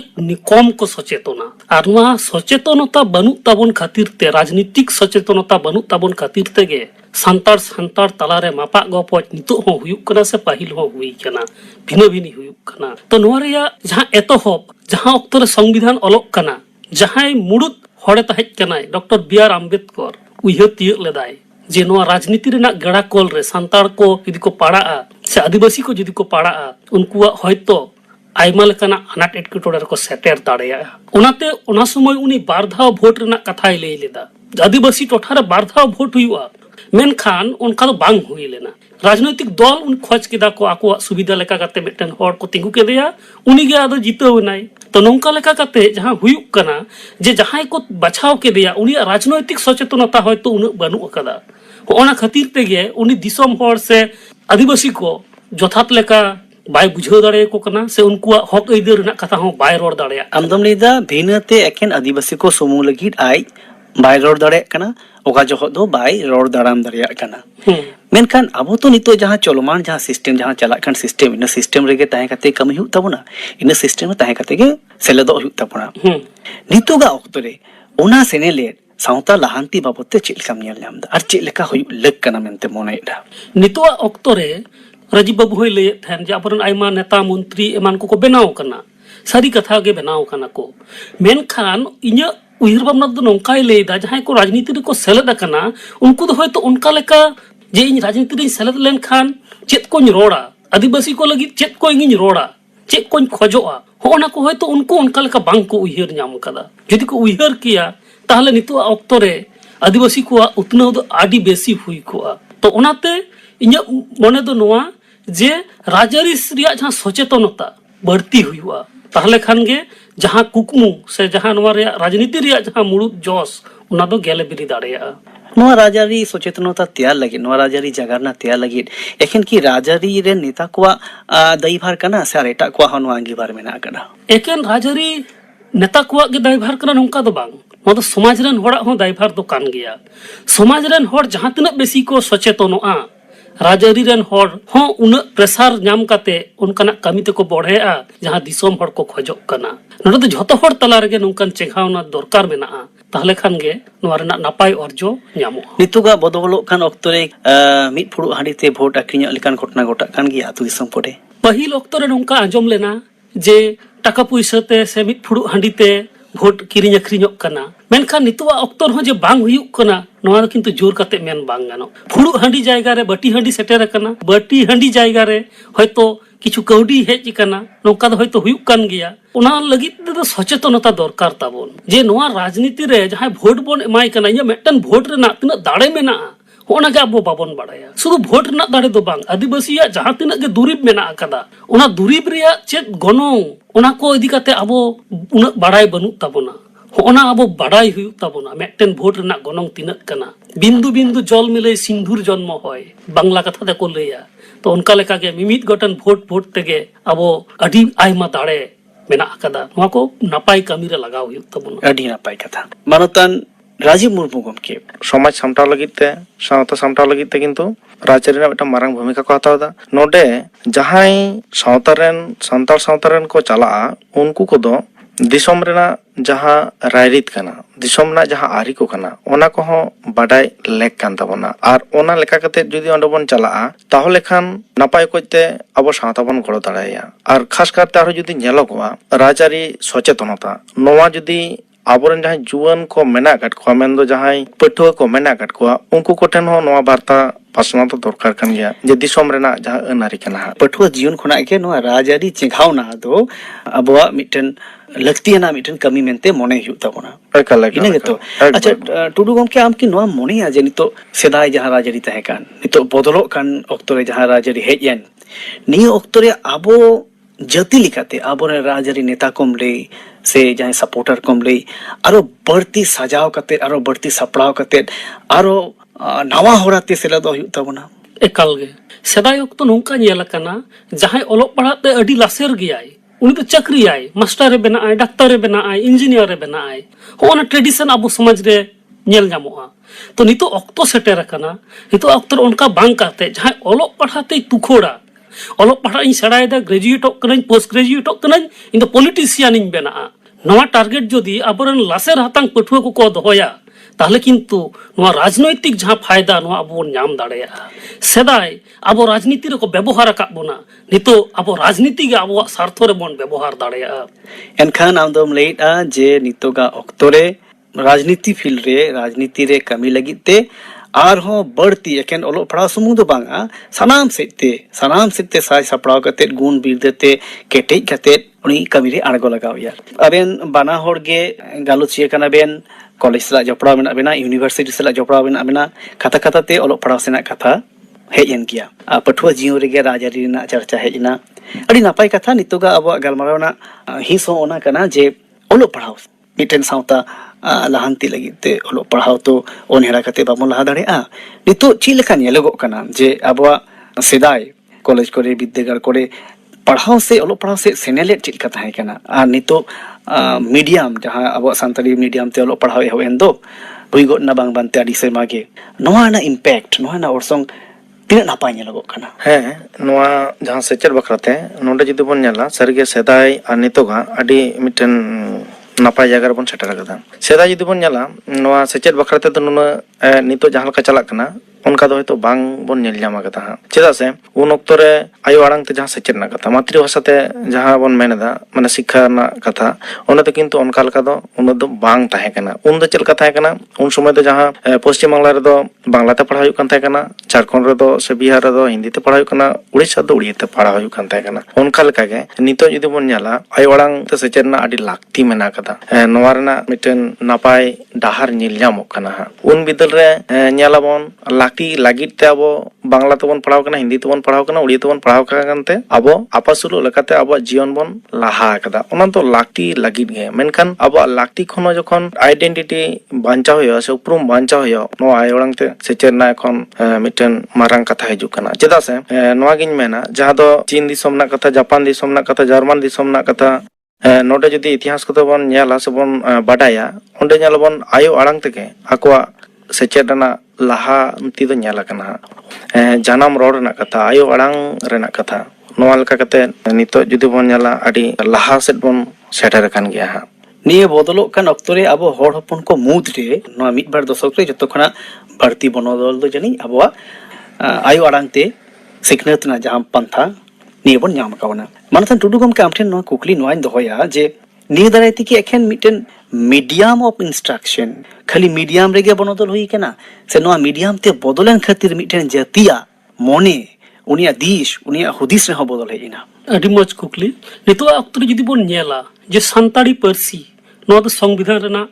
ᱠᱚᱢ ᱠᱚ ᱥᱚᱪᱮᱛᱚᱱᱟ ᱟᱨ ᱱᱚᱣᱟ ᱥᱚᱪᱮᱛᱚᱱᱚᱛᱟ ᱵᱟᱹᱱᱩᱜ ᱛᱟᱵᱚᱱ ᱠᱷᱟᱹᱛᱤᱨ ᱛᱮ ᱨᱟᱡᱽᱱᱤᱛᱤᱠ ᱥᱚᱪᱮᱛᱚᱱᱚᱛᱟ ᱵᱟᱹᱱᱩᱜ ᱛᱟᱵᱚᱱ ᱠᱷᱟᱹᱛᱤᱨ ᱛᱮᱜᱮ ᱥᱟᱱᱛᱟᱲ ᱥᱟᱱᱛᱟᱲ ᱛᱟᱞᱟᱨᱮ ᱢᱟᱯᱟᱜ ᱜᱚᱯᱚᱡ ᱱᱤᱛᱚᱜ ᱦᱚᱸ ᱦᱩᱭᱩᱜ ᱠᱟᱱᱟ ᱥᱮ ᱯᱟᱹᱦᱤᱞ ᱦᱚᱸ ᱦᱩᱭ ᱠᱟᱱᱟ ᱵᱷᱤᱱᱟᱹ ᱵᱷᱤᱱᱤ ᱦᱩᱭᱩᱜ ᱠᱟᱱᱟ ᱛᱚ ᱱᱚᱣᱟ ᱨᱮᱭᱟᱜ ᱡᱟᱦᱟᱸ ᱮᱛᱚᱦᱚᱵ ᱡᱟᱦᱟᱸ ᱚᱠᱛᱚ ᱨᱮ ᱥᱚᱝᱵᱤᱫᱷᱟᱱ ᱚᱞᱚᱜ ᱠᱟᱱᱟ ᱡᱟᱦᱟᱸᱭ ᱢᱩᱲᱩᱫ ᱦᱚᱲᱮ ᱛᱟᱦᱮᱸ ᱠᱟᱱᱟᱭ ᱰᱚᱠᱴᱚᱨ ᱵᱤ ᱟᱨ ᱟᱢᱵᱮᱫᱠᱚᱨ ᱩᱭᱦᱟᱹᱨ ᱛᱤᱭᱟᱹᱜ ᱞᱮᱫᱟᱭ ᱡᱮ ᱱᱚᱣᱟ ᱨᱟᱡᱽᱱᱤᱛᱤ ᱨᱮᱱᱟᱜ ᱜᱮᱲᱟ ᱠᱚᱞ ᱨᱮ ᱥᱟᱱᱛᱟᱲ ᱠᱚ ᱡᱩᱫᱤ ᱠᱚ ᱯᱟᱲᱟᱜᱼᱟ ᱥᱮ ᱟᱹᱫᱤᱵᱟᱹᱥᱤ ᱠᱚ ᱡᱩᱫᱤ ᱠᱚ ᱯᱟᱲᱟᱜᱼᱟ ᱩᱱᱠᱩᱣᱟᱜ ᱦᱚᱭᱛᱚ ᱟᱭᱢᱟ ᱞᱮᱠᱟᱱᱟᱜ ᱟᱱᱟᱴ ᱮᱴᱠᱮᱴᱚᱬᱮ ᱨᱮᱠᱚ ᱥᱮᱴᱮᱨ ᱫᱟᱲᱮᱭᱟᱜᱼᱟ ᱚᱱᱟᱛᱮ ᱚᱱᱟ ᱥᱚᱢᱚᱭ ᱩᱱᱤ ᱵᱟᱨ ᱫᱷᱟᱣ ᱵᱷᱳᱴ ᱨᱮᱱᱟᱜ ᱠᱟᱛᱷᱟᱭ ᱞᱟᱹᱭ ᱞᱮᱫᱟ ᱟᱹᱫᱤᱵᱟᱹᱥᱤ ᱴᱚᱴᱷᱟ ᱨᱮ ᱵᱟᱨ ᱫᱷᱟᱣ ᱵᱷᱳᱴ ᱦᱩᱭᱩᱜᱼᱟ ᱢᱮᱱᱠᱷᱟᱱ ᱚᱱᱠᱟ ᱫᱚ ᱵᱟᱝ ᱦᱩᱭ ᱞᱮᱱᱟ ᱨᱟᱡᱽᱱᱳᱭᱛᱤᱠ ᱫᱚᱞ ᱩᱱ ᱠᱷᱚᱡᱽ ᱠᱮᱫᱟ ᱠᱚ ᱟᱠᱚᱣᱟᱜ ᱥᱩᱵᱤᱫᱷᱟ ᱞᱮᱠᱟ ᱠᱟᱛᱮ ᱢᱤᱫᱴᱮᱱ ᱦᱚᱲ ᱠᱚ ᱛᱤᱸᱜᱩ ᱠᱮᱫᱮᱭᱟ ᱩᱱᱤ ᱜᱮ ᱟᱫᱚ ᱡᱤᱛᱟᱹᱣ ᱮᱱᱟᱭ ᱛᱚ ᱱᱚᱝᱠᱟ ᱞᱮᱠᱟ ᱠᱟᱛᱮ ᱡᱟᱦᱟᱸ ᱦᱩᱭᱩᱜ ᱠᱟᱱᱟ ᱡᱮ ᱡᱟᱦᱟᱸᱭ ᱠᱚ ᱵᱟᱪᱷᱟᱣ ᱠᱮᱫᱮᱭᱟ ᱩᱱᱤᱭᱟᱜ ᱨᱟᱡᱽᱱᱳᱭᱛᱤᱠ ᱥᱚᱪᱮᱛᱚᱱᱚᱛᱟ ᱦᱚᱭᱛᱳ ᱩᱱᱟᱹᱜ ᱵᱟᱹᱱᱩᱜ ᱟᱠᱟᱫᱟ ᱦᱚᱸᱜᱼᱚ ᱱᱟ ᱠᱷᱟᱹᱛᱤᱨ ᱛᱮᱜᱮ ᱩᱱᱤ ᱫᱤᱥᱚᱢ ᱦᱚᱲ ᱥᱮ ᱟᱹᱫᱤᱵᱟᱹᱥᱤ ᱠᱚ ᱡᱚᱛᱷᱟᱛ ᱞᱮᱠᱟ ᱵᱟᱭ ᱵᱩᱡᱷᱟᱹᱣ ᱫᱟᱲᱮᱭᱟᱠᱚ ᱠᱟᱱᱟ ᱥᱮ ᱩᱱᱠᱩᱣᱟᱜ ᱦᱚᱠ ᱟᱹᱭᱫᱟᱹᱨ ᱨᱮᱱᱟᱜ ᱠᱟᱛᱷᱟ ᱦᱚᱸ ᱵᱟᱭ ᱨᱚᱲ ᱫᱟᱲᱮᱭᱟᱜ ᱠᱟᱱᱟ ᱟᱢᱫᱚᱢ ᱞᱟᱹᱭᱫᱟ ᱵᱷᱤᱱᱟᱹ ᱛᱮ ᱮᱠᱮᱱ ᱟᱹᱫᱤᱵᱟᱹᱥᱤ ᱠᱚ ᱥᱩᱢᱩᱝ ᱞᱟᱹᱜᱤᱫ ᱟᱡ ᱵᱟᱭ ᱨᱚᱲ ᱫᱟᱲᱮᱭᱟᱜ ᱠᱟᱱᱟ ᱚᱠᱟ ᱡᱚᱦᱚᱜ ᱫᱚ ᱵᱟᱭ ᱨᱚᱲ ᱫᱟᱲᱟᱢ ᱫᱟᱲᱮᱭᱟᱜ ᱠᱟᱱᱟ ᱦᱮᱸ ᱢᱮᱱᱠᱷᱟᱱ ᱟᱵᱚ ᱛᱚ ᱱᱤᱛᱚᱜ ᱡᱟᱦᱟᱸ ᱪᱚᱞᱚᱢᱟᱱ ᱡᱟᱦᱟᱸ ᱥᱤᱥᱴᱮᱢ ᱡᱟᱦᱟᱸ ᱪᱟᱞᱟᱜ ᱠᱟᱱ ᱥᱤᱥᱴᱮᱢ ᱤᱱᱟᱹ ᱥᱤᱥᱴᱮᱢ ᱨᱮᱜᱮ ᱛᱟᱦᱮᱸ ᱠᱟᱛᱮ ᱠᱟᱹᱢᱤ ᱦᱩᱭᱩᱜ ᱛᱟᱵᱚᱱᱟ ᱤᱱᱟᱹ ᱥᱤᱥᱴᱮᱢ ᱨᱮ ᱛᱟᱦᱮᱸ ᱠᱟᱛᱮ ᱜᱮ ᱥᱮᱞᱮᱫᱚᱜ ᱦᱩᱭᱩᱜ ᱛᱟᱵᱚᱱᱟ ᱦᱮᱸ ᱱᱤᱛᱚᱜᱟᱜ ᱚᱠᱛᱚ ᱨᱮ ᱚᱱᱟ ᱥᱮᱱᱮᱞᱮᱫ ᱥᱟᱶᱛᱟ ᱞᱟᱦᱟᱱᱛᱤ ᱵᱟᱵᱚᱛ ᱛᱮ ᱪᱮᱫ ᱞᱮᱠᱟᱢ ᱧᱮᱞ ᱧᱟᱢ ᱮᱫᱟ ᱟᱨ ᱪᱮᱫ ᱞᱮᱠᱟ ᱦᱩᱭᱩᱜ ᱞᱟᱹᱠ ᱠᱟᱱᱟ ᱢᱮᱱᱛᱮ ᱢᱚᱱᱮᱭᱮᱫᱟ ᱱᱤᱛᱚᱜᱟᱜ ᱚᱠᱛᱚ ᱨᱮ ᱨᱟᱡᱤᱵ ᱵᱟᱹᱵᱩ ᱦᱚᱸᱭ ᱞᱟᱹᱭᱮᱫ ᱛᱟᱦᱮᱱ ᱡᱮ ᱟᱵᱚᱨᱮᱱ ᱟᱭᱢᱟ ᱱᱮᱛᱟ ᱢᱚᱱᱛᱨᱤ ᱮᱢᱟᱱ ᱠᱚᱠᱚ ᱵᱮᱱᱟᱣ ᱠᱟᱱᱟ ᱥᱟᱹᱨᱤ ᱠᱟᱛᱷᱟ ᱜᱮ ᱵᱮᱱᱟᱣ ᱠᱟᱱᱟ ᱠᱚ ᱢᱮᱱᱠᱷᱟᱱ ᱤᱧᱟᱹᱜ ᱩᱭᱦᱟᱹᱨ ᱵᱷᱟᱵᱽᱱᱟ ᱫᱚ ᱱᱚᱝᱠᱟᱭ ᱞᱟᱹᱭᱮᱫᱟ ᱡᱟᱦᱟᱸᱭ ᱠᱚ ᱨᱟᱡᱽᱱᱤᱛᱤ ᱨᱮᱠᱚ ᱥᱮᱞᱮᱫ ᱟᱠᱟᱱᱟ ᱩᱱᱠᱩ ᱫᱚ ᱦᱚᱭᱛᱳ ᱚᱱᱠᱟ ᱞᱮᱠᱟ ᱡᱮ ᱤᱧ ᱨᱟᱡᱽᱱᱤᱛᱤ ᱨᱤᱧ ᱥᱮᱞᱮᱫ ᱞᱮᱱᱠᱷᱟᱱ ᱪᱮᱫ ᱠᱚᱧ ᱨᱚᱲᱟ ᱟᱹᱫᱤᱵᱟᱹᱥᱤ ᱠᱚ ᱞᱟᱹᱜᱤᱫ ᱪᱮᱫ ᱠᱚ ᱤᱧᱤᱧ ᱨᱚᱲᱟ ᱪᱮᱫ ᱠᱚᱧ ᱠᱷᱚᱡᱚᱜᱼᱟ ᱦᱚᱸᱜᱼᱚ ᱱᱟ ᱠᱚ ᱦᱚᱭᱛᱳ ᱩᱱᱠᱩ ᱚᱱᱠᱟ ᱞᱮᱠᱟ ᱵᱟᱝ ᱠᱚ ᱩᱭᱦᱟᱹᱨ ᱧᱟᱢ ᱠᱟᱫᱟ ᱡᱩᱫᱤ ᱠᱚ ᱩᱭᱦᱟᱹᱨ ᱠᱮᱭᱟ ᱛᱟᱦᱚᱞᱮ ᱱᱤᱛᱚᱜ ᱟᱜ ᱚᱠᱛᱚ ᱨᱮ ᱟᱹᱫᱤᱵᱟᱹᱥᱤ ᱠᱚᱣᱟᱜ ᱩᱛᱱᱟᱹᱣ ᱫᱚ ᱟᱹᱰᱤ ᱵᱮᱥᱤ ᱦᱩᱭ ᱠᱚᱜᱼᱟ ᱛᱚ ᱚᱱᱟᱛᱮ ᱤᱧᱟᱹᱜ ᱢᱚᱱᱮ ᱫᱚ ᱱᱚᱣᱟ ᱡᱮ ᱨᱟᱡᱽᱟᱹᱨᱤ ᱨᱮᱭᱟᱜ ᱡᱟᱦᱟᱸ ᱥᱚᱪᱮᱛᱚᱱᱚᱛᱟ ᱵᱟᱹᱲᱛᱤ ᱦᱩᱭᱩᱜᱼᱟ ᱛᱟᱦᱚᱞᱮ ᱠᱷᱟᱱ ᱜᱮ ᱡᱟᱦᱟᱸ ᱠᱩᱠᱢᱩ ᱥᱮ ᱡᱟᱦᱟᱸ ᱱᱚᱣᱟ ᱨᱮᱭᱟᱜ ᱨᱟᱡᱽᱱᱤᱛᱤ ᱨᱮᱭᱟᱜ ᱡᱟᱦᱟᱸ ᱢᱩᱲᱩᱫ ᱡᱚᱥ ᱚᱱᱟ ᱫᱚ ᱜᱮᱞᱮ ᱵᱤᱞᱤ ᱫᱟᱲᱮᱭᱟᱜᱼᱟ ᱱᱚᱣᱟ ᱨᱟᱡᱽᱟᱹᱨᱤ ᱥᱚᱪᱮᱛᱚᱱᱚᱛᱟ ᱛᱮᱭᱟᱨ ᱞᱟᱹᱜᱤᱫ ᱱᱚᱣᱟ ᱨᱟᱡᱽᱟᱹᱨᱤ ᱡᱟᱜᱟᱨᱱᱟ ᱛᱮᱭᱟᱨ ᱞᱟᱹᱜᱤᱫ ᱮᱠᱷᱮᱱ ᱠᱤ ᱨᱟᱡᱽᱟᱹᱨᱤ ᱨᱮ ᱱᱮᱛᱟ ᱠᱚᱣᱟᱜ ᱫᱟᱭᱵᱷᱟᱨ ᱠᱟᱱᱟ ᱥᱮ ᱟᱨ ᱮᱴᱟᱜ ᱠᱚᱣᱟᱜ ᱦᱚᱸ ᱱᱚᱣᱟ ᱟᱸᱜᱤᱵᱷᱟᱨ ᱢᱮᱱᱟᱜ ᱟᱠᱟᱫᱟ ᱮᱠᱮᱱ ᱨᱟᱡᱽᱟᱹᱨᱤ ᱱᱮᱛᱟ ᱠᱚᱣᱟᱜ ᱜᱮ ᱫᱟᱭᱵᱷᱟᱨ ᱠᱟᱱᱟ ᱱᱚᱝᱠᱟ ᱫᱚ ᱵᱟᱝ ᱱᱚᱣᱟ ᱫᱚ ᱥᱚᱢᱟᱡᱽ ᱨᱮᱱ ᱦᱚᱲᱟᱜ ᱦᱚᱸ ᱫᱟᱭᱵᱷᱟᱨ ᱫᱚ ᱠᱟᱱ ᱜᱮᱭᱟ ᱥᱚᱢᱟᱡᱽ ᱨᱮᱱ ᱦᱚᱲ ᱡᱟᱦᱟᱸ ᱛᱤᱱᱟᱹᱜ ᱵᱮᱥᱤ ᱠᱚ ᱥᱚᱪᱮᱛᱚᱱᱚᱜᱼᱟ ᱨᱟᱡᱽᱟᱹᱨᱤ ᱨᱮᱱ ᱦᱚᱲ ᱦᱚᱸ ᱩᱱᱟᱹᱜ ᱯᱨᱮᱥᱟᱨ ᱧᱟᱢ ᱠᱟᱛᱮ ᱚᱱᱠᱟᱱᱟᱜ ᱠᱟᱹᱢᱤ ᱛᱮᱠᱚ ᱵᱚᱲᱦᱮᱜᱼᱟ ᱡᱟᱦᱟᱸ ᱫᱤᱥᱚᱢ ᱦᱚᱲ ᱠᱚ ᱠᱷᱚᱡᱚᱜ ᱠᱟᱱᱟ ᱱᱚᱰᱮ ᱫᱚ ᱡᱷᱚᱛᱚ ᱦᱚᱲ ᱛᱟᱞᱟ ᱨᱮᱜᱮ ᱱᱚᱝᱠᱟᱱ ᱪᱮᱸᱜᱷᱟᱣᱱᱟ ᱫᱚᱨᱠᱟᱨ ᱢᱮᱱᱟᱜᱼᱟ ᱛᱟᱦᱞᱮ ᱠᱷᱟᱱ ᱜᱮ ᱱᱚᱣᱟ ᱨᱮᱱᱟᱜ ᱱᱟᱯᱟᱭ ᱚᱨᱡᱚ ᱧᱟᱢᱚᱜᱼᱟ ᱱᱤᱛᱚᱜᱟᱜ ᱵᱚᱫᱚᱞᱚᱜ ᱠᱟᱱ ᱚᱠᱛᱚ ᱨᱮ ᱢᱤᱫ ᱯᱷᱩᱲᱩᱜ ᱦᱟᱺᱰᱤ ᱛᱮ ᱵᱷᱳᱴ ᱟᱹᱠᱷᱨᱤᱧᱚᱜ ᱞᱮᱠᱟᱱ ᱜᱷᱚᱴᱚᱱᱟ ᱜᱷᱚᱴᱟᱜ ᱠᱟᱱ ᱜᱮᱭᱟ ᱟᱹᱛᱩ ᱫᱤᱥᱚᱢ ᱠᱚᱨᱮ ᱯᱟᱹᱦᱤᱞ ᱚᱠᱛᱚ ᱨᱮ ᱱᱚᱝᱠᱟ ᱟᱸᱡᱚᱢ ᱞᱮᱱᱟ ᱡᱮ ᱴᱟᱠᱟ ᱯᱩᱭᱥᱟᱹ ᱛᱮ ᱥᱮ ᱢᱤᱫ ᱯᱷᱩᱲᱩᱜ ᱦᱟᱺᱰᱤ ᱛᱮ ᱵᱷᱳᱴ ᱠᱤᱨᱤᱧ ᱟᱹᱠᱷᱨᱤᱧᱚᱜ ᱠᱟᱱᱟ ᱢᱮᱱᱠᱷᱟᱱ ᱱᱤᱛᱚᱜ ᱚᱠᱛᱚ ᱨᱮᱦᱚᱸ ᱡᱮ ᱵᱟᱝ ᱦᱩᱭᱩᱜ ᱠᱟᱱᱟ ᱱᱚᱣᱟ ᱫᱚ ᱠᱤᱱᱛᱩ ᱡᱳᱨ ᱠᱟᱛᱮ ᱢᱮᱱ ᱵᱟᱝ ᱜᱟᱱᱚᱜ ᱯᱷᱩᱲᱩᱜ ᱦᱟᱺᱰᱤ ᱡᱟᱭᱜᱟ ᱨᱮ ᱵᱟᱹᱴᱤ ᱦᱟᱺᱰᱤ ᱥᱮᱴᱮᱨ ᱟᱠᱟᱱᱟ ᱵᱟᱹᱴᱤ ᱦᱟᱺᱰᱤ ᱡᱟᱭᱜᱟ ᱨᱮ ᱦᱚᱭᱛᱚ ᱠᱤᱪᱷᱩ ᱠᱟᱹᱣᱰᱤ ᱦᱮᱡ ᱟᱠᱟᱱᱟ ᱱᱚᱝᱠᱟ ᱫᱚ ᱦᱚᱭᱛᱚ ᱦᱩᱭᱩᱜ ᱠᱟᱱ ᱜᱮᱭᱟ ᱚᱱᱟ ᱞᱟᱹᱜᱤᱫ ᱛᱮᱫᱚ ᱥᱚᱪᱮᱛᱚᱱᱚᱛᱟ ᱫᱚᱨᱠᱟᱨ ᱛᱟᱵᱚᱱ ᱡᱮ ᱱᱚᱣᱟ ᱨᱟᱡᱽᱱᱤᱛᱤ ᱨᱮ ᱡᱟᱦᱟᱸᱭ ᱵᱷᱳᱴ ᱵᱚᱱ ᱮᱢᱟᱭ ᱠᱟᱱᱟ ᱤᱧᱟᱹᱜ ᱢᱤᱫᱴᱟᱝ ᱵᱷᱳᱴ ᱨᱮᱱᱟᱜ ᱛᱤᱱᱟᱹᱜ ᱫᱟᱲᱮ ᱢᱮᱱᱟᱜᱼᱟ ᱚᱱᱟᱜᱮ ᱟᱵᱚ ᱵᱟᱵᱚᱱ ᱵᱟᱲᱟᱭᱟ ᱥᱩᱫᱷᱩ ᱵᱷᱳᱴ ᱨᱮᱱᱟᱜ ᱫᱟᱲᱮ ᱫᱚ ᱵᱟᱝ ᱟᱹᱫᱤᱵᱟᱹᱥᱤᱭᱟᱜ ᱡᱟᱦᱟᱸ ᱛᱤᱱᱟᱹᱜ ᱜᱮ ᱫᱩᱨᱤᱵᱽ ᱢᱮᱱᱟᱜ ᱟᱠᱟᱫᱟ ᱚᱱᱟ ᱫᱩᱨᱤᱵᱽ ᱨᱮᱭᱟᱜ ᱪᱮᱫ ᱜᱚᱱᱚᱝ ᱚᱱᱟ ᱠᱚ ᱤᱫᱤ ᱠᱟᱛᱮ ᱟᱵᱚ ᱩᱱᱟᱹᱜ ᱵᱟᱲᱟᱭ ᱵᱟᱹᱱᱩᱜ ᱛᱟᱵᱚᱱᱟ ᱦᱚᱸᱜᱼᱚᱱᱟ ᱟᱵᱚ ᱵᱟᱰᱟᱭ ᱦᱩᱭᱩᱜ ᱛᱟᱵᱚᱱᱟ ᱢᱤᱫᱴᱮᱱ ᱵᱷᱳᱴ ᱨᱮᱱᱟᱜ ᱜᱚᱱᱚᱝ ᱛᱤᱱᱟᱹᱜ ᱠᱟᱱᱟ ᱵᱤᱱᱫᱩ ᱵᱤᱱᱫᱩ ᱡᱚᱞ ᱢᱤᱞᱟᱹᱭ ᱥᱤᱱᱫᱷᱩᱨ ᱡᱚᱱᱢᱚ ᱦᱚᱭ ᱵᱟᱝᱞᱟ ᱠᱟᱛᱷᱟ ᱛᱮᱠᱚ ᱞᱟᱹᱭᱟ ᱛᱚ ᱚᱱᱠᱟ ᱞᱮᱠᱟᱜᱮ ᱢᱤᱢᱤᱫ ᱜᱚᱴᱮᱱ ᱵᱷᱳᱴ ᱵᱷᱳᱴ ᱛᱮᱜᱮ ᱟᱵᱚ ᱟᱹᱰᱤ ᱟᱭᱢᱟ ᱫᱟᱲᱮ ᱢᱮᱱᱟᱜ ᱟᱠᱟᱫᱟ ᱱᱚᱣᱟ ᱠᱚ ᱱᱟᱯᱟᱭ ᱠᱟᱹᱢᱤᱨᱮ ᱞᱟᱜᱟᱣ ᱦᱩᱭᱩᱜ ᱛᱟᱵᱚᱱᱟ ᱟᱹᱰᱤ ᱱᱟᱯᱟᱭ ᱠᱟᱛᱷᱟ ᱢᱟᱱᱚᱛᱟᱱ ᱨᱟᱡᱤᱵᱽ ᱢᱩᱨᱢᱩ ᱜᱚᱢᱠᱮ ᱥᱚᱢᱟᱡᱽ ᱥᱟᱢᱴᱟᱣ ᱞᱟᱹᱜᱤᱫ ᱛᱮ ᱥᱟᱶᱛᱟ ᱥᱟᱢᱴᱟᱣ ᱞᱟᱹᱜᱤᱫ ᱛᱮ ᱠᱤᱱᱛᱩ ᱨᱟᱡᱽᱟᱹᱨᱤ ᱨᱮᱱᱟᱜ ᱢᱤᱫᱴᱟᱝ ᱢᱟᱨᱟᱝ ᱵᱷᱩᱢᱤᱠᱟ ᱠᱚ ᱦᱟᱛᱟᱣ ᱮᱫᱟ ᱱᱚᱰᱮ ᱡᱟᱦᱟᱸᱭ ᱥᱟᱶᱛᱟ ᱨᱮᱱ ᱥᱟᱱᱛᱟᱲ ᱥᱟᱶᱛᱟ ᱨᱮᱱ ᱠᱚ ᱪᱟᱞᱟᱜᱼᱟ ᱩᱱᱠᱩ ᱠᱚᱫᱚ ᱫᱤᱥᱚᱢ ᱨᱮᱱᱟᱜ ᱡᱟᱦᱟᱸ ᱨᱟᱭᱨᱤᱛ ᱠᱟᱱᱟ ᱫᱤᱥᱚᱢ ᱨᱮᱱᱟᱜ ᱡᱟᱦᱟᱸ ᱟᱹᱨᱤ ᱠᱚ ᱠᱟᱱᱟ ᱚᱱᱟ ᱠᱚᱦᱚᱸ ᱵᱟᱰᱟᱭ ᱞᱮᱠ ᱠᱟᱱ ᱛᱟᱵᱚᱱᱟ ᱟᱨ ᱚᱱᱟ ᱞᱮᱠᱟ ᱠᱟᱛᱮ ᱡᱩᱫᱤ ᱚᱸᱰᱮ ᱵᱚᱱ ᱪᱟᱞᱟᱜᱼᱟ ᱛᱟᱦᱚᱞᱮ ᱠᱷᱟᱱ ᱱᱟᱯᱟᱭ ᱚᱠᱚᱡ ᱛᱮ ᱟᱵᱚ ᱥᱟᱶᱛᱟ ᱵᱚᱱ ᱜᱚᱲᱚ ᱫᱟᱲᱮᱭᱟᱭᱟ ᱟᱨ ᱠᱷᱟᱥ ᱠᱟᱨᱛᱮ ᱟᱨᱦᱚᱸ ᱡᱩᱫᱤ ᱧᱮᱞᱚᱜᱚᱜᱼᱟ ᱨᱟᱡᱽᱟᱹᱨᱤ ᱥᱚᱪᱮᱛᱚᱱᱚᱛᱟ ᱱᱚᱣᱟ ᱡᱩᱫᱤ ᱟᱵᱚᱨᱮᱱ ᱡᱟᱦᱟᱸᱭ ᱡᱩᱣᱟᱹᱱ ᱠᱚ ᱢᱮᱱᱟᱜ ᱟᱠᱟᱫ ᱠᱚᱣᱟ ᱢᱮᱱᱫᱚ ᱡᱟᱦᱟᱸᱭ ᱯᱟᱹᱴᱷᱩᱣᱟᱹ ᱠᱚ ᱢᱮᱱᱟᱜ ᱟᱠᱟᱫ ᱠᱚᱣᱟ ᱩᱱᱠᱩ ᱠᱚᱴᱷᱮᱱ ᱦᱚᱸ ᱱᱚᱣᱟ ᱵᱟᱨᱛᱟ ᱯᱟᱥᱱᱟᱣ ᱫᱚ ᱫᱚᱨᱠᱟᱨ ᱠᱟᱱ ᱜᱮᱭᱟ ᱡᱮ ᱫᱤᱥᱚᱢ ᱨᱮᱱᱟᱜ ᱡᱟᱦᱟᱸ ᱟᱹᱱ ᱟᱹᱨᱤ ᱠᱟᱱᱟ ᱦᱟᱸᱜ ᱯᱟᱹᱴᱷᱩᱣᱟᱹ ᱡᱤᱭᱚᱱ ᱠᱷᱚᱱᱟᱜ ᱜᱮ ᱱᱚᱣᱟ ᱨᱟᱡᱽᱟᱹᱨᱤ ᱪᱮᱸᱜᱷᱟᱣᱱᱟ ᱫᱚ ᱟᱵᱚᱣᱟᱜ ᱢᱤᱫᱴᱮᱱ ᱞᱟᱹᱠᱛᱤᱭᱟᱱᱟᱜ ᱢᱤᱫᱴᱮᱱ ᱠᱟᱹᱢᱤ ᱢᱮᱱᱛᱮ ᱢᱚᱱᱮ ᱦᱩᱭᱩᱜ ᱛᱟᱵᱚᱱᱟ ᱮᱠᱟᱞ ᱮᱠᱟᱞ ᱤᱱᱟᱹ ᱜᱮᱛᱚ ᱮᱠᱟᱞ, ᱟᱪᱪᱷᱟ ᱮᱠᱫᱚᱢ᱾ ᱟᱸ, ᱴᱩᱰᱩ ᱜᱚᱢᱠᱮ ᱟᱢ ᱠᱤ ᱱᱚᱣᱟᱢ ᱢᱚᱱᱮᱭᱟ ᱡᱮ ᱱᱤᱛᱚᱜ ᱥᱮᱫᱟᱭ ᱡᱟᱦᱟᱸ ᱨᱟᱡᱽᱟᱹᱨᱤ ᱛᱟᱦᱮᱸ ᱠᱟᱱ ᱱᱤᱛᱚᱜ ᱵᱚᱫᱚᱞᱚᱜ ᱠᱟᱱ ᱚᱠᱛᱚ ᱨᱮ ᱡᱟᱦᱟᱸ ᱨᱟᱡᱽᱟᱹᱨᱤ ᱦᱮᱡ ᱮᱱ ᱱᱤᱭᱟᱹ ᱚᱠᱛᱚ ᱨᱮ ᱟᱵᱚ ᱡᱟᱹᱛᱤ ᱞᱮᱠᱟᱛᱮ ᱟᱵᱚᱨᱮᱱ ᱨᱟᱡᱽᱟᱹᱨᱤ ᱱᱮᱛᱟ ᱠᱚᱢ ᱞᱟᱹᱭ ᱥᱮ ᱡᱟᱦᱟᱸᱭ ᱥᱟᱯᱳᱨᱴᱟᱨ ᱠᱚᱢ ᱞᱟᱹᱭ ᱟᱨᱚ ᱵᱟᱹᱲᱛᱤ ᱥᱟᱡᱟᱣ ᱠᱟᱛᱮ ᱟᱨᱚ ᱵᱟᱹᱲᱛᱤ ᱥᱟᱯᱲᱟᱣ ᱠᱟᱛᱮ ᱟᱨᱚ ᱱᱟᱣᱟ ᱦᱚᱨᱟᱛᱮ ᱥᱮᱞᱮᱫᱚᱜ ᱦᱩᱭᱩᱜ ᱛᱟᱵᱚᱱᱟ ᱮᱠᱟᱞ ᱜᱮ ᱥᱮᱫᱟᱭ ᱚᱠᱛᱚ ᱱᱚᱝᱠᱟ ᱧᱮᱞ ᱟᱠᱟᱱᱟ ᱡᱟᱦᱟᱸᱭ ᱚᱞᱚᱜ ᱯᱟᱲᱦᱟᱜ ᱛᱮ ᱟᱹᱰᱤ ᱞᱟᱥᱮᱨ ᱜᱮᱭᱟᱭ ᱩᱱᱤ ᱫᱚ ᱪᱟᱹᱠᱨᱤᱭᱟᱭ ᱢᱟᱥᱴᱟᱨᱮ ᱵᱮᱱᱟᱜᱼᱟᱭ ᱰᱟᱠᱛᱟᱨᱮ ᱵᱮᱱᱟᱜᱼᱟᱭ ᱤᱧᱡᱤᱱᱤᱭᱟᱨᱮ ᱵᱮᱱᱟᱜᱼᱟᱭ ᱦᱚᱸᱜᱼᱚ ᱱᱟ ᱴᱨᱮᱰᱤᱥᱚᱱ ᱟᱵᱚ ᱥᱚᱢᱟᱡᱽ ᱨᱮ ᱧᱮᱞ ᱧᱟᱢᱚᱜᱼᱟ ᱛᱚ ᱱᱤᱛᱚᱜ ᱚᱠᱛᱚ ᱥᱮᱴᱮᱨ ᱟᱠᱟᱱᱟ ᱱᱤᱛᱚᱜ ᱚᱠᱛᱚ ᱨᱮ ᱚᱱᱠᱟ ᱵᱟᱝ ᱠᱟᱛᱮ ᱡᱟᱦᱟᱸᱭ ᱚᱞᱚᱜ ᱯᱟᱲᱦᱟᱣ ᱛᱮᱭ ᱛᱩᱠᱷᱚᱲᱟ ᱚᱞᱚᱜ ᱯᱟᱲᱦᱟᱜ ᱤᱧ ᱥᱮᱬᱟᱭᱮᱫᱟ ᱜᱨᱮᱡᱩᱭᱮᱴᱚᱜ ᱠᱟᱹᱱᱟᱹᱧ ᱯᱳᱥᱴ ᱜᱨᱮᱡᱩᱭᱮᱴᱚᱜ ᱠᱟᱹᱱᱟᱹᱧ ᱤᱧ ᱫᱚ ᱯᱚᱞᱤᱴᱤᱥᱤᱭᱟᱱ ᱤᱧ ᱵᱮᱱᱟᱜᱼᱟ ᱱᱚᱣᱟ ᱴᱟᱨᱜᱮᱴ ᱡᱩᱫᱤ ᱟᱵᱚᱨᱮᱱ ᱞᱟᱥᱮᱨ ᱦᱟᱛᱟᱝ ᱯᱟᱹᱴᱷᱩᱣᱟᱹ ᱠᱚᱠᱚ ᱫᱚᱦᱚᱭᱟ ᱛᱟᱦᱞᱮ ᱠᱤᱱᱛᱩ ᱱᱚᱣᱟ ᱨᱟᱡᱽᱱᱳᱭᱛᱤᱠ ᱡᱟᱦᱟᱸ ᱯᱷᱟᱭᱫᱟ ᱱᱚᱣᱟ ᱟᱵᱚ ᱵᱚᱱ ᱧᱟᱢ ᱫᱟᱲᱮᱭᱟᱜᱼᱟ ᱥᱮᱫᱟᱭ ᱟᱵᱚ ᱨᱟᱡᱽᱱᱤᱛᱤ ᱨᱮᱠᱚ ᱵᱮᱵᱚᱦᱟᱨ ᱟᱠᱟᱫ ᱵᱚᱱᱟ ᱱᱤᱛᱚᱜ ᱟᱵᱚ ᱨᱟᱡᱽᱱᱤᱛᱤ ᱜᱮ ᱟᱵᱚᱣᱟᱜ ᱥᱟᱨᱛᱷᱚ ᱨᱮᱵᱚᱱ ᱵᱮᱵᱚᱦᱟᱨ ᱫᱟᱲᱮᱭᱟᱜᱼᱟ ᱮᱱᱠᱷᱟᱱ ᱟᱢ ᱫᱚᱢ ᱞᱟᱹᱭᱮᱫᱼᱟ ᱡᱮ ᱱᱤᱛᱚᱜᱟᱜ ᱚᱠᱛᱚ ᱨᱮ ᱨᱟᱡᱽᱱᱤᱛᱤ ᱯᱷᱤᱞᱰ ᱨᱮ ᱨᱟᱡᱽᱱᱤᱛᱤ ᱨᱮ ᱠᱟᱹᱢᱤ ᱞᱟᱹᱜᱤᱫ ᱛᱮ ᱟᱨᱦᱚᱸ ᱵᱟᱹᱲᱛᱤ ᱮᱠᱮᱱ ᱚᱞᱚᱜ ᱯᱟᱲᱦᱟᱣ ᱥᱩᱢᱩᱝ ᱫᱚ ᱵᱟᱝᱼᱟ ᱥᱟᱱᱟᱢ ᱥᱮᱫ ᱛᱮ ᱥᱟᱱᱟᱢ ᱥᱮᱫ ᱛᱮ ᱥᱟᱡᱽ ᱥᱟᱯᱲᱟᱣ ᱠᱟᱛᱮ ᱜᱩᱱ ᱵᱤᱨᱫᱟᱹ ᱛᱮ ᱠᱮᱴᱮᱡ ᱠᱟᱛᱮ ᱩᱱᱤ ᱠᱟᱹᱢᱤ ᱨᱮ ᱟᱬᱜᱚ ᱞᱟᱜᱟᱣ ᱮᱭᱟ ᱟᱵᱮᱱ ᱵᱟᱱᱟ ᱦᱚᱲ ᱜᱮ ᱜᱟᱞᱚᱪᱤᱭᱟᱹ ᱠᱟᱱᱟ ᱵᱮᱱ ᱠᱚᱞᱮᱡᱽ ᱥᱟᱞᱟᱜ ᱡᱚᱯᱲᱟᱣ ᱢᱮᱱᱟᱜ ᱵᱮᱱᱟ ᱤᱭᱩᱱᱤᱵᱷᱟᱨᱥᱤᱴᱤ ᱥᱟᱞᱟᱜ ᱡᱚᱯᱲᱟᱣ ᱢᱮᱱᱟᱜ ᱵᱮᱱᱟ ᱠᱟᱛᱷᱟ ᱠᱟᱛᱷᱟ ᱛᱮ ᱚᱞᱚᱜ ᱯᱟᱲᱦᱟᱣ ᱥᱮᱱᱟᱜ ᱠᱟᱛᱷᱟ ᱦᱮᱡ ᱮᱱ ᱜᱮᱭᱟ ᱟᱨ ᱯᱟᱹᱴᱷᱩᱣᱟᱹ ᱡᱤᱭᱚᱱ ᱨᱮᱜᱮ ᱨᱟᱡᱽᱟᱹᱨᱤ ᱨᱮᱱᱟᱜ ᱪᱟᱨᱪᱟ ᱦᱮᱡ ᱮᱱᱟ ᱟᱹᱰᱤ ᱱᱟᱯᱟᱭ ᱠᱟᱛᱷᱟ ᱱᱤᱛᱚᱜᱟᱜ ᱟᱵᱚᱣᱟᱜ ᱜᱟᱞᱢᱟᱨᱟᱣ ᱨᱮᱱᱟᱜ ᱦᱤᱸᱥ ᱦᱚᱸ ᱚᱱᱟ ᱠᱟᱱᱟ ᱡᱮ ᱚᱞᱚᱜ ᱯᱟᱲᱦᱟᱣ ᱢᱤᱫᱴᱮᱱ ᱥᱟᱶᱛᱟ ᱞᱟᱦᱟᱱᱛᱤ ᱞᱟᱹᱜᱤᱫ ᱛᱮ ᱚᱞᱚᱜ ᱯᱟᱲᱦᱟᱣ ᱛᱚ ᱚᱱᱦᱮᱲᱟ ᱠᱟᱛᱮ ᱵᱟᱵᱚᱱ ᱞᱟᱦᱟ ᱫᱟᱲᱮᱭᱟᱜᱼᱟ ᱱᱤᱛᱚᱜ ᱪᱮᱫ ᱞᱮᱠᱟ ᱧᱮᱞᱚᱜᱚᱜ ᱠᱟᱱᱟ ᱡᱮ ᱟᱵᱚᱣᱟᱜ ᱥᱮᱫᱟᱭ ᱠᱚᱞᱮᱡᱽ ᱠᱚᱨᱮ ᱵᱤᱫᱽᱫᱟᱹᱜᱟᱲ ᱠᱚᱨᱮ ᱯᱟᱲᱦᱟᱣ ᱥᱮ ᱚᱞᱚᱜ ᱯᱟᱲᱦᱟᱣ ᱥᱮᱫ ᱥᱮᱱᱮᱞᱮᱫ ᱪᱮᱫ ᱞᱮᱠᱟ ᱛᱟᱦᱮᱸ ᱠᱟᱱᱟ ᱟᱨ ᱱᱤᱛᱚᱜ ᱢᱤᱰᱤᱭᱟᱢ ᱡᱟᱦᱟᱸ ᱟᱵᱚᱣᱟᱜ ᱥᱟᱱᱛᱟᱲᱤ ᱢᱤᱰᱤᱭᱟᱢ ᱛᱮ ᱚᱞᱚᱜ ᱯᱟᱲᱦᱟᱣ ᱮᱦᱚᱵ ᱮᱱ ᱫᱚ ᱦᱩᱭ ᱜᱚᱫ ᱮᱱᱟ ᱵᱟᱝ ᱵᱟᱝᱛᱮ ᱟᱹᱰᱤ ᱥᱮᱨᱢᱟ ᱜᱮ ᱱᱚᱣᱟ ᱨᱮᱱᱟᱜ ᱤᱢᱯᱮᱠᱴ ᱱᱚᱣᱟ ᱨᱮᱱᱟᱜ ᱚᱨᱥᱚᱝ ᱛᱤᱱᱟᱹᱜ ᱱᱟᱯᱟᱭ ᱧᱮᱞᱚᱜᱚᱜ ᱠᱟᱱᱟ ᱦᱮᱸ ᱱᱚᱣᱟ ᱡᱟᱦᱟᱸ ᱥᱮᱪᱮᱫ ᱵᱟᱠᱷᱨᱟᱛᱮ ᱱᱚᱰᱮ ᱡᱩᱫᱤ ᱵᱚᱱ ᱧᱮᱞᱟ ᱥᱟᱹᱨᱤᱜᱮ ᱥᱮᱫᱟᱭ ᱟᱨ ᱱᱤᱛᱚᱜᱟᱜ ᱟᱹᱰᱤ ᱢᱤᱫᱴᱮᱱ ᱱᱟᱯᱟᱭ ᱡᱟᱭᱜᱟ ᱨᱮᱵᱚᱱ ᱥᱮᱴᱮᱨ ᱠᱟᱫᱟ ᱥᱮᱫᱟᱭ ᱡᱩᱫᱤ ᱵᱚᱱ ᱧᱮᱞᱟ ᱱᱚᱣᱟ ᱥᱮᱪᱮᱫ ᱵᱟᱠᱷᱨᱟ ᱛᱮᱫᱚ ᱱᱩᱱᱟᱹᱜ ᱱᱤᱛᱚᱜ ᱡᱟᱦᱟᱸ ᱞᱮᱠᱟ ᱪᱟᱞᱟᱜ ᱠᱟᱱᱟ ᱚᱱᱠᱟ ᱫᱚ ᱦᱚᱭᱛᱳ ᱵᱟᱝ ᱵᱚᱱ ᱧᱮᱞ ᱧᱟᱢ ᱠᱟᱫᱟ ᱦᱟᱸᱜ ᱪᱮᱫᱟᱜ ᱥᱮ ᱩᱱ ᱚᱠᱛᱚ ᱨᱮ ᱟᱭᱳ ᱟᱲᱟᱝ ᱛᱮ ᱡᱟᱦᱟᱸ ᱥᱮᱪᱮᱫ ᱨᱮᱱᱟᱜ ᱠᱟᱛᱷᱟ ᱢᱟᱛᱨᱤ ᱵᱷᱟᱥᱟ ᱛᱮ ᱡᱟᱦᱟᱸ ᱵᱚᱱ ᱢᱮᱱ ᱮᱫᱟ ᱢᱟᱱᱮ ᱥᱤᱠᱠᱷᱟ ᱨᱮᱱᱟᱜ ᱠᱟᱛᱷᱟ ᱚᱱᱟ ᱫᱚ ᱠᱤᱱᱛᱩ ᱚᱱᱠᱟ ᱞᱮᱠᱟ ᱫᱚ ᱩᱱᱟᱹᱜ ᱫᱚ ᱵᱟᱝ ᱛᱟᱦᱮᱸ ᱠᱟᱱᱟ ᱩᱱ ᱫᱚ ᱪᱮᱫ ᱞᱮᱠᱟ ᱛᱟᱦᱮᱸ ᱠᱟᱱᱟ ᱩᱱ ᱥᱚᱢᱚᱭ ᱫᱚ ᱡᱟᱦᱟᱸ ᱯᱚᱥᱪᱤᱢ ᱵᱟᱝᱞᱟ ᱨᱮᱫᱚ ᱵᱟᱝᱞᱟ ᱛᱮ ᱯᱟᱲᱦᱟᱣ ᱦᱩᱭᱩᱜ ᱠᱟᱱ ᱛᱟᱦᱮᱸ ᱠᱟᱱᱟ ᱡᱷᱟᱲᱠᱷᱚᱸᱰ ᱨᱮᱫᱚ ᱥᱮ ᱵᱤᱦᱟᱨ ᱨᱮᱫᱚ ᱦᱤᱱᱫᱤ ᱛᱮ ᱯᱟᱲᱦᱟᱣ ᱦᱩᱭᱩᱜ ᱠᱟᱱᱟ ᱳᱰᱤᱥᱟ ᱨᱮᱫᱚ ᱳᱰᱤᱭᱟ ᱛᱮ ᱯᱟᱲᱦᱟᱣ ᱦᱩᱭᱩᱜ ᱠᱟᱱ ᱛᱟᱦᱮᱸ ᱠᱟᱱᱟ ᱚᱱᱠᱟ ᱞᱮᱠᱟᱜᱮ ᱱᱤᱛᱚᱜ ᱡᱩᱫᱤ ᱵᱚᱱ ᱧᱮᱞᱟ ᱟᱭᱳ ᱟᱲᱟᱝ ᱛᱮ ᱥᱮᱪᱮᱫ ᱨᱮᱱᱟᱜ ᱟᱹᱰᱤ ᱞᱟᱹᱠᱛᱤ ᱢᱮᱱᱟᱜ ᱠᱟᱫᱟ ᱱᱚᱣᱟ ᱨᱮᱱᱟᱜ ᱢᱤᱫᱴᱮᱱ ᱱᱟᱯᱟᱭ ᱰᱟᱦᱟᱨ ᱧᱮᱞ ᱧᱟᱢᱚᱜ ᱠᱟᱱᱟ ᱦᱟᱸᱜ ᱩᱱ ᱵᱤᱫᱟᱹᱞ ᱨᱮ ᱧᱮᱞ ᱟᱵᱚᱱ ᱞᱟᱹᱠᱛᱤ ᱞᱟᱹᱜᱤᱫ ᱛᱮ ᱟᱵᱚ ᱵᱟᱝᱞᱟ ᱛᱮᱵᱚᱱ ᱯᱟᱲᱦᱟᱣ ᱠᱟᱱᱟ ᱦᱤᱱᱫᱤ ᱛᱮᱵᱚᱱ ᱯᱟᱲᱦᱟᱣ ᱠᱟᱱᱟ ᱳᱰᱤᱭᱟ ᱛᱮᱵᱚᱱ ᱯᱟᱲᱦᱟᱣ ᱠᱟᱱᱛᱮ ᱟᱵᱚ ᱟᱯᱟᱥᱩᱞᱚᱜ ᱞᱮᱠᱟᱛᱮ ᱟᱵᱚᱣᱟᱜ ᱡᱤᱭᱚᱱ ᱵᱚᱱ ᱞᱟᱦᱟ ᱟᱠᱟᱫᱟ ᱚᱱᱟ ᱫᱚ ᱞᱟᱹᱠᱛᱤ ᱞᱟᱹᱜᱤᱫ ᱜᱮ ᱢᱮᱱᱠᱷᱟᱱ ᱟᱵᱚᱣᱟᱜ ᱞᱟᱹᱠᱛᱤ ᱠᱷᱚᱱ ᱦᱚᱸ ᱡᱚᱠᱷᱚᱱ ᱟᱭᱰᱮᱱᱴᱤᱴᱤ ᱵᱟᱧᱪᱟᱣ ᱦᱩᱭᱩᱜᱼᱟ ᱥᱮ ᱩᱯᱨᱩᱢ ᱵᱟᱧᱪᱟᱣ ᱦᱩᱭᱩᱜᱼᱟ ᱱᱚᱣᱟ ᱟᱭᱳ ᱟᱲᱟᱝ ᱛᱮ ᱥᱮᱪᱮᱫ ᱨᱮᱱᱟᱜ ᱮᱠᱷᱚᱱ ᱢᱤᱫᱴᱮᱱ ᱢᱟᱨᱟᱝ ᱠᱟᱛᱷᱟ ᱦᱤᱡᱩᱜ ᱠᱟᱱᱟ ᱪᱮᱫᱟᱜ ᱥᱮ ᱱᱚᱣᱟ ᱜᱤᱧ ᱢᱮᱱᱟ ᱡᱟᱦᱟᱸ ᱫᱚ ᱪᱤᱱ ᱫᱤᱥᱚᱢ ᱨᱮᱱᱟᱜ ᱠᱟᱛᱷᱟ ᱡᱟᱯᱟᱱ ᱫᱤᱥᱚᱢ ᱨᱮᱱᱟᱜ ᱠᱟᱛᱷᱟ ᱡᱟᱨᱢᱟᱱ ᱫᱤᱥᱚᱢ ᱨᱮᱱᱟᱜ ᱠᱟᱛᱷᱟ ᱱᱚᱰᱮ ᱡᱩᱫᱤ ᱤᱛᱤᱦᱟᱥ ᱠᱚᱛᱮ ᱵᱚᱱ ᱧᱮᱞᱟ ᱥᱮᱵᱚᱱ ᱵᱟᱰᱟᱭᱟ ᱚᱸᱰᱮ ᱧᱮᱞ ᱟᱵᱚᱱ ᱟᱭᱳ ᱟᱲᱟᱝ ᱛᱮᱜᱮ ᱟᱠᱚᱣᱟᱜ ᱥᱮᱪᱮᱫ ᱨᱮᱱᱟᱜ ᱞᱟᱦᱟᱱᱛᱤ ᱫᱚ ᱧᱮᱞ ᱟᱠᱟᱱᱟ ᱡᱟᱱᱟᱢ ᱨᱚᱲ ᱨᱮᱱᱟᱜ ᱠᱟᱛᱷᱟ ᱟᱭᱳ ᱟᱲᱟᱝ ᱨᱮᱱᱟᱜ ᱠᱟᱛᱷᱟ ᱱᱚᱣᱟ ᱞᱮᱠᱟ ᱠᱟᱛᱮᱜ ᱱᱤᱛᱚᱜ ᱡᱩᱫᱤ ᱵᱚᱱ ᱧᱮᱞᱟ ᱟᱹᱰᱤ ᱞᱟᱦᱟ ᱥᱮᱫ ᱵᱚᱱ ᱥᱮᱴᱮᱨ ᱟᱠᱟᱱ ᱜᱮᱭᱟ ᱦᱟᱜ ᱱᱤᱭᱟᱹ ᱵᱚᱫᱚᱞᱚᱜ ᱠᱟᱱ ᱚᱠᱛᱚ ᱨᱮ ᱟᱵᱚ ᱦᱚᱲ ᱦᱚᱯᱚᱱ ᱠᱚ ᱢᱩᱫᱽ ᱨᱮ ᱱᱚᱣᱟ ᱢᱤᱫ ᱵᱟᱨ ᱫᱚᱥᱚᱠ ᱨᱮ ᱡᱚᱛᱚ ᱠᱷᱚᱱᱟᱜ ᱵᱟᱹᱲᱛᱤ ᱵᱚᱱᱚᱫᱚᱞ ᱫᱚ ᱡᱟᱹᱱᱤᱡ ᱟᱵᱚᱣᱟᱜ ᱟᱭᱳ ᱟᱲᱟᱝ ᱛᱮ ᱥᱤᱠᱷᱱᱟᱹᱛ ᱨᱮᱱᱟᱜ ᱡᱟᱦᱟᱸ ᱯᱟᱱᱛᱷᱟ ᱱᱤᱭᱟᱹ ᱵᱚᱱ ᱧᱟᱢ ᱠᱟᱣᱱᱟ ᱢᱟᱱᱚᱛᱟᱱ ᱴᱩᱰᱩ ᱜᱚᱢᱠᱮ ᱟᱢ ᱴᱷᱮᱱ ᱱᱚᱣᱟ ᱠᱩᱠᱞᱤ ᱱᱚᱣᱟᱧ ᱫᱚᱦᱚᱭᱟ ᱡᱮ ᱱᱤᱭᱟᱹ ᱫᱟᱨᱟᱭ ᱛᱮᱜᱮ ᱮᱠᱷᱮᱱ ᱢᱤᱫᱴᱮᱱ ᱢᱤᱰᱤᱭᱟᱢ ᱚᱯᱷ ᱤᱱᱥᱴᱨᱟᱠᱥᱚᱱ ᱠᱷᱟᱹᱞᱤ ᱢᱤᱰᱤᱭᱟᱢ ᱨᱮᱜᱮ ᱵᱚᱱᱚᱫᱚᱞ ᱦᱩᱭ ᱟᱠᱟᱱᱟ ᱥᱮ ᱱᱚᱣᱟ ᱢᱤᱰᱤᱭᱟᱢ ᱛᱮ ᱵᱚᱫᱚᱞᱮᱱ ᱠᱷᱟᱹᱛᱤᱨ ᱢᱤᱫᱴᱮᱱ ᱡᱟᱹᱛᱤᱭᱟᱜ ᱢᱚᱱᱮ ᱩᱱᱤᱭᱟᱜ ᱫᱤᱥ ᱩᱱᱤᱭᱟᱜ ᱦᱩᱫᱤᱥ ᱨᱮᱦᱚᱸ ᱵᱚᱫᱚᱞ ᱦᱮᱡ ᱮᱱᱟ ᱟᱹᱰᱤ ᱢᱚᱡᱽ ᱠᱩᱠᱞᱤ ᱱᱤᱛᱚᱜ ᱚᱠᱛᱚ ᱨᱮ ᱡᱩᱫᱤ ᱵᱚᱱ ᱧᱮᱞᱟ ᱡᱮ ᱥᱟᱱᱛᱟᱲᱤ ᱯᱟᱹᱨᱥᱤ ᱱᱚᱣᱟ ᱫᱚ ᱥᱚᱝᱵᱤᱫᱷᱟᱱ ᱨᱮᱱᱟᱜ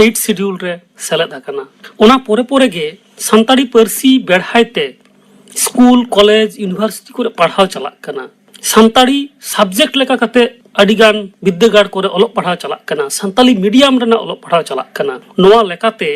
ᱮᱭᱤᱴ ᱥᱤᱰᱤᱭᱩᱞ ᱨᱮ ᱥᱮᱞᱮᱫ ᱟᱠᱟᱱᱟ ᱚᱱᱟ ᱯᱚᱨᱮ ᱯᱚᱨᱮ ᱜᱮ ᱥᱟᱱᱛᱟᱲᱤ ᱯᱟᱹᱨᱥᱤ ᱵᱮᱲᱦᱟᱭ ᱛᱮ ᱥᱠᱩᱞ ᱠᱚᱞᱮᱡᱽ ᱤᱭᱩᱱᱤᱵᱷᱟᱨᱥᱤᱴᱤ ᱠᱚᱨᱮ ᱯᱟᱲᱦᱟᱣ ᱪᱟᱞᱟᱜ ᱠᱟᱱᱟ ᱥᱟᱱᱛᱟᱲᱤ ᱥᱟᱵᱡᱮᱠᱴ ᱞᱮᱠᱟ ᱠᱟᱛᱮ ᱟᱹᱰᱤ ᱜᱟᱱ ᱵᱤᱫᱽᱫᱟᱹᱜᱟᱲ ᱠᱚᱨᱮ ᱚᱞᱚᱜ ᱯᱟᱲᱦᱟᱣ ᱪᱟᱞᱟᱜ ᱠᱟᱱᱟ ᱥᱟᱱᱛᱟᱲᱤ ᱢᱤᱰᱤᱭᱟᱢ ᱨᱮᱱᱟᱜ ᱚᱞᱚᱜ ᱯᱟᱲᱦᱟᱣ ᱪᱟᱞᱟᱜ ᱠᱟᱱᱟ ᱱᱚᱣᱟ ᱞᱮᱠᱟᱛᱮ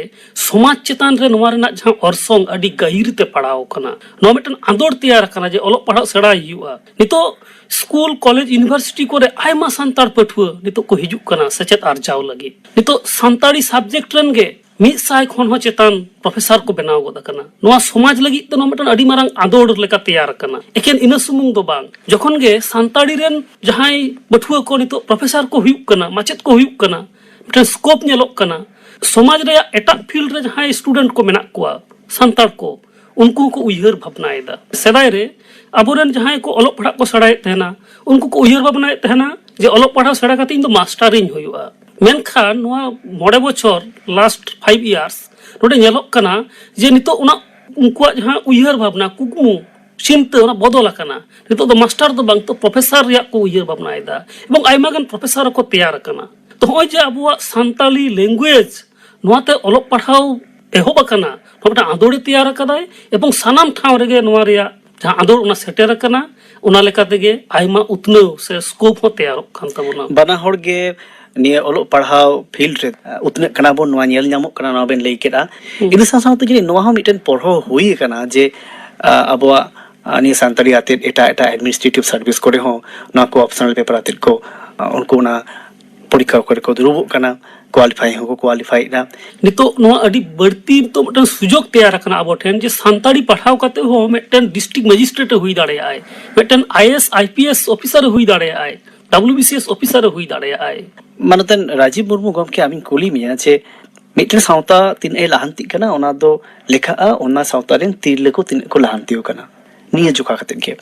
ᱥᱚᱢᱟᱡᱽ ᱪᱮᱛᱟᱱ ᱨᱮ ᱱᱚᱣᱟ ᱨᱮᱱᱟᱜ ᱡᱟᱦᱟᱸ ᱚᱨᱥᱚᱝ ᱟᱹᱰᱤ ᱜᱟᱹᱦᱤᱨ ᱛᱮ ᱯᱟᱲᱟᱣ ᱟᱠᱟᱱᱟ ᱱᱚᱣᱟ ᱢᱤᱫᱴᱟᱝ ᱟᱸᱫᱚᱲ ᱛᱮᱭᱟᱨ ᱟᱠᱟᱱᱟ ᱡᱮ ᱚᱞᱚᱜ ᱯᱟᱲᱦᱟᱜ ᱥᱮᱬᱟᱭ ᱦᱩᱭᱩᱜᱼᱟ ᱱᱤᱛᱚᱜ ᱥᱠᱩᱞ ᱠᱚᱞᱮᱡᱽ ᱤᱭᱩᱱᱤᱵᱷᱟᱨᱥᱤᱴᱤ ᱠᱚᱨᱮ ᱟᱭᱢᱟ ᱥᱟᱱᱛᱟᱲ ᱯᱟᱹᱴᱷᱩᱣᱟᱹ ᱱᱤᱛᱚᱜ ᱠᱚ ᱦᱤᱡᱩᱜ ᱠᱟᱱᱟ ᱥᱮᱪᱮᱫ ᱟᱨᱡᱟᱣ ᱞᱟᱹᱜᱤᱫ ᱱᱤᱛᱚᱜ ᱥᱟᱱᱛᱟᱲᱤ ᱥᱟᱵᱡᱮᱠᱴ ᱨᱮᱱ ᱜᱮ ᱢᱤᱫ ᱥᱟᱭ ᱠᱷᱚᱱ ᱦᱚᱸ ᱪᱮᱛᱟᱱ ᱯᱨᱚᱯᱷᱮᱥᱟᱨ ᱠᱚ ᱵᱮᱱᱟᱣ ᱜᱚᱫ ᱟᱠᱟᱱᱟ ᱱᱚᱣᱟ ᱥᱚᱢᱟᱡᱽ ᱞᱟᱹᱜᱤᱫ ᱛᱮ ᱱᱚᱣᱟ ᱢᱤᱫᱴᱟᱝ ᱟᱹᱰᱤ ᱢᱟᱨᱟᱝ ᱟᱸᱫᱳᱲ ᱞᱮᱠᱟ ᱛᱮᱭᱟᱨ ᱟᱠᱟᱱᱟ ᱮᱠᱮᱱ ᱤᱱᱟᱹ ᱥᱩᱢᱩᱝ ᱫᱚ ᱵᱟᱝ ᱡᱚᱠᱷᱚᱱ ᱜᱮ ᱥᱟᱱᱛᱟᱲᱤ ᱨᱮᱱ ᱡᱟᱦᱟᱸᱭ ᱯᱟᱹᱴᱷᱩᱣᱟᱹ ᱠᱚ ᱱᱤᱛᱚᱜ ᱯᱨᱚᱯᱷᱮᱥᱟᱨ ᱠᱚ ᱦᱩᱭᱩᱜ ᱠᱟᱱᱟ ᱢᱟᱪᱮᱫ ᱠᱚ ᱦᱩᱭᱩᱜ ᱠᱟᱱᱟ ᱢᱤᱫᱴᱟᱝ ᱥᱠᱳᱯ ᱧᱮᱞᱚᱜ ᱠᱟᱱᱟ ᱥᱚᱢᱟᱡᱽ ᱨᱮᱭᱟᱜ ᱮᱴᱟᱜ ᱯᱷᱤᱞᱰ ᱨᱮ ᱡᱟᱦᱟᱸᱭ ᱥᱴᱩᱰᱮᱱᱴ ᱠᱚ ᱢᱮᱱᱟᱜ ᱠᱚᱣᱟ ᱥᱟᱱᱛᱟᱲ ᱠᱚ ᱩᱱᱠᱩ ᱦᱚᱸᱠᱚ ᱩᱭᱦᱟᱹᱨ ᱵᱷᱟᱵᱽᱱᱟᱭᱮᱫᱟ ᱥᱮᱫᱟᱭ ᱨᱮ ᱟᱵᱚᱨᱮᱱ ᱡᱟᱦᱟᱸᱭ ᱠᱚ ᱚᱞᱚᱜ ᱯᱟᱲᱦᱟᱜ ᱠᱚ ᱥᱮᱬᱟᱭᱮᱫ ᱛᱟᱦᱮᱱᱟ ᱩᱱᱠᱩ ᱠᱚ ᱩᱭᱦᱟᱹᱨ ᱵᱷᱟᱵᱽᱱᱟᱭᱮᱫ ᱛᱟᱦᱮᱱᱟ ᱡᱮ ᱚᱞᱚᱜ ᱯᱟᱲᱦᱟᱣ ᱥᱮᱬᱟ ᱠᱟᱛᱮ ᱤᱧ ᱫᱚ ᱢᱟᱥᱴᱟᱨᱤᱧ ᱦᱩᱭᱩᱜᱼᱟ ᱢᱮᱱᱠᱷᱟᱱ ᱱᱚᱣᱟ ᱢᱚᱬᱮ ᱵᱚᱪᱷᱚᱨ ᱞᱟᱥᱴ ᱯᱷᱟᱭᱤᱵᱷ ᱤᱭᱟᱨᱥ ᱱᱚᱰᱮ ᱧᱮᱞᱚᱜ ᱠᱟᱱᱟ ᱡᱮ ᱱᱤᱛᱚᱜ ᱚᱱᱟ ᱩᱱᱠᱩᱣᱟᱜ ᱡᱟᱦᱟᱸ ᱩᱭᱦᱟᱹᱨ ᱵᱷᱟᱵᱽᱱᱟ ᱠᱩᱠᱢᱩ ᱪᱤᱱᱛᱟᱹ ᱚᱱᱟ ᱵᱚᱫᱚᱞ ᱟᱠᱟᱱᱟ ᱱᱤᱛᱚᱜ ᱫᱚ ᱢᱟᱥᱴᱟᱨ ᱫᱚ ᱵᱟᱝ ᱛᱚ ᱯᱨᱚᱯᱷᱮᱥᱟᱨ ᱨᱮᱭᱟᱜ ᱠᱚ ᱩᱭᱦᱟᱹᱨ ᱵᱷᱟᱵᱽᱱᱟᱭᱮᱫᱟ ᱮᱵᱚᱝ ᱟᱭᱢᱟ ᱜᱟᱱ ᱯᱨᱚᱯᱷᱮᱥᱟᱨ ᱦᱚᱸᱠᱚ ᱛᱮᱭᱟᱨ ᱟᱠᱟᱱᱟ ᱛᱚ ᱱᱚᱜᱼᱚᱭ ᱡᱮ ᱟᱵᱚᱣᱟᱜ ᱥᱟᱱᱛᱟᱞᱤ ᱞᱮᱝᱜᱩᱭᱮᱡᱽ ᱱᱚᱣᱟᱛᱮ ᱚᱞᱚᱜ ᱯᱟᱲᱦᱟᱣ ᱮᱦᱚᱵ ᱟᱠᱟᱱᱟ ᱱᱚᱣᱟ ᱢᱤᱫᱴᱟᱝ ᱟᱸᱫᱳᱲᱮ ᱛᱮᱭᱟᱨ ᱟᱠᱟᱫᱟᱭ ᱮᱵᱚᱝ ᱥᱟᱱᱟᱢ ᱴᱷᱟᱶ ᱨᱮᱜᱮ ᱱᱚᱣᱟ ᱨᱮᱭᱟᱜ ᱡᱟᱦᱟᱸ ᱟᱸᱫᱳᱲ ᱚᱱᱟ ᱥᱮᱴᱮᱨ ᱟᱠᱟᱱᱟ ᱚᱱᱟ ᱞᱮᱠᱟ ᱛᱮᱜᱮ ᱟᱭᱢᱟ ᱩᱛᱱᱟᱹᱣ ᱥᱮ ᱥᱠᱳᱯ ᱦᱚᱸ ᱛᱮᱭᱟᱨᱚᱜ ᱠᱟᱱ ᱛᱟᱵᱚᱱᱟ ᱵᱟᱱᱟ ᱦᱚᱲ ᱜᱮ ᱱᱤᱭᱟᱹ ᱚᱞᱚᱜ ᱯᱟᱲᱦᱟᱣ ᱯᱷᱤᱞᱰ ᱨᱮ ᱩᱛᱱᱟᱹᱜ ᱠᱟᱱᱟ ᱵᱚᱱ ᱱᱚᱣᱟ ᱧᱮᱞ ᱧᱟᱢᱚᱜ ᱠᱟᱱᱟ ᱱᱚᱣᱟ ᱵᱮᱱ ᱞᱟᱹᱭ ᱠᱮᱫᱟ ᱤᱱᱟᱹ ᱥᱟᱶ ᱥᱟᱶᱛᱮ ᱡᱟᱹᱱᱤᱡ ᱱᱚᱣᱟ ᱦᱚᱸ ᱢᱤᱫᱴᱮᱱ ᱯᱚᱲᱦᱚ ᱦᱩᱭ ᱟᱠᱟᱱᱟ ᱡᱮ ᱟᱵᱚᱣᱟᱜ ᱱᱤᱭᱟᱹ ᱥᱟᱱᱛᱟᱲᱤ ᱟᱛᱮᱫ ᱮᱴᱟᱜ ᱮᱴᱟᱜ ᱮᱰᱢᱤᱱᱤᱥᱴᱨᱮᱴᱤᱵᱷ ᱥᱟᱨᱵᱷᱤᱥ ᱠᱚᱨᱮ ᱦᱚᱸ ᱱᱚᱣᱟ ᱠᱚ ᱚᱯᱥᱚᱱᱟᱞ ᱯᱮᱯᱟᱨ ᱟᱛᱮᱫ ᱠᱚ ᱩᱱᱠᱩ ᱚᱱᱟ ᱯᱚᱨᱤᱠᱠᱷᱟ ᱠᱚᱨᱮ ᱠᱚ ᱫᱩᱲᱩᱵᱚᱜ ᱠᱟᱱᱟ ᱠᱳᱣᱟᱞᱤᱯᱷᱟᱭ ᱦᱚᱸᱠᱚ ᱠᱳᱣᱟᱞᱤᱯᱷᱟᱭᱮᱫ ᱫᱟ ᱱᱤᱛᱚᱜ ᱱᱚᱣᱟ ᱟᱹᱰᱤ ᱵᱟᱹᱲᱛᱤ ᱱᱤᱛᱚᱜ ᱢᱤᱫᱴᱟᱝ ᱥᱩᱡᱳᱜᱽ ᱛᱮᱭᱟᱨ ᱟᱠᱟᱱᱟ ᱟᱵᱚ ᱴᱷᱮᱱ ᱡᱮ ᱥᱟᱱᱛᱟᱲᱤ ᱯᱟᱲᱦᱟᱣ ᱠᱟᱛᱮ ᱦᱚᱸ ᱢᱤᱫᱴᱮᱱ ᱰᱤᱥᱴᱨᱤᱠᱴ ᱢᱮᱡᱤᱥᱴᱨᱮᱴ ᱮ ᱦᱩᱭ ᱫᱟᱲᱮᱭᱟᱜᱼᱟᱭ ᱢᱤᱫᱴᱮᱱ I S I P S officer ᱮ ᱦᱩᱭ ᱫᱟᱲᱮᱭᱟᱜᱼᱟᱭ W B C S officer ᱮ ᱦᱩᱭ ᱫᱟᱲᱮᱭᱟᱜᱼᱟᱭ ᱢᱟᱱᱚᱛᱟᱱ ᱨᱟᱡᱤᱵᱽ ᱢᱩᱨᱢᱩ ᱜᱚᱢᱠᱮ ᱟᱢᱤᱧ ᱠᱩᱞᱤ ᱢᱮᱭᱟ ᱡᱮ ᱢᱤᱫᱴᱮᱱ ᱥᱟᱶᱛᱟ ᱛᱤᱱᱟᱹᱜ ᱮ ᱞᱟᱦᱟᱱᱛᱤᱜ ᱠᱟᱱᱟ ᱚᱱᱟ ᱫᱚ ᱞᱮᱠᱷᱟᱜᱼᱟ ᱚᱱᱟ ᱥᱟᱶᱛᱟ ᱨᱮᱱ ᱛᱤᱨᱞᱟᱹ ᱠᱚ ᱛᱤᱱᱟᱹᱜ ᱠᱚ ᱞᱟᱦᱟᱱᱛᱤ ᱟᱠᱟᱱᱟ ᱱᱤᱭᱟᱹ ᱡᱚᱠᱷᱟ ᱠᱟᱛᱮ ᱜᱮ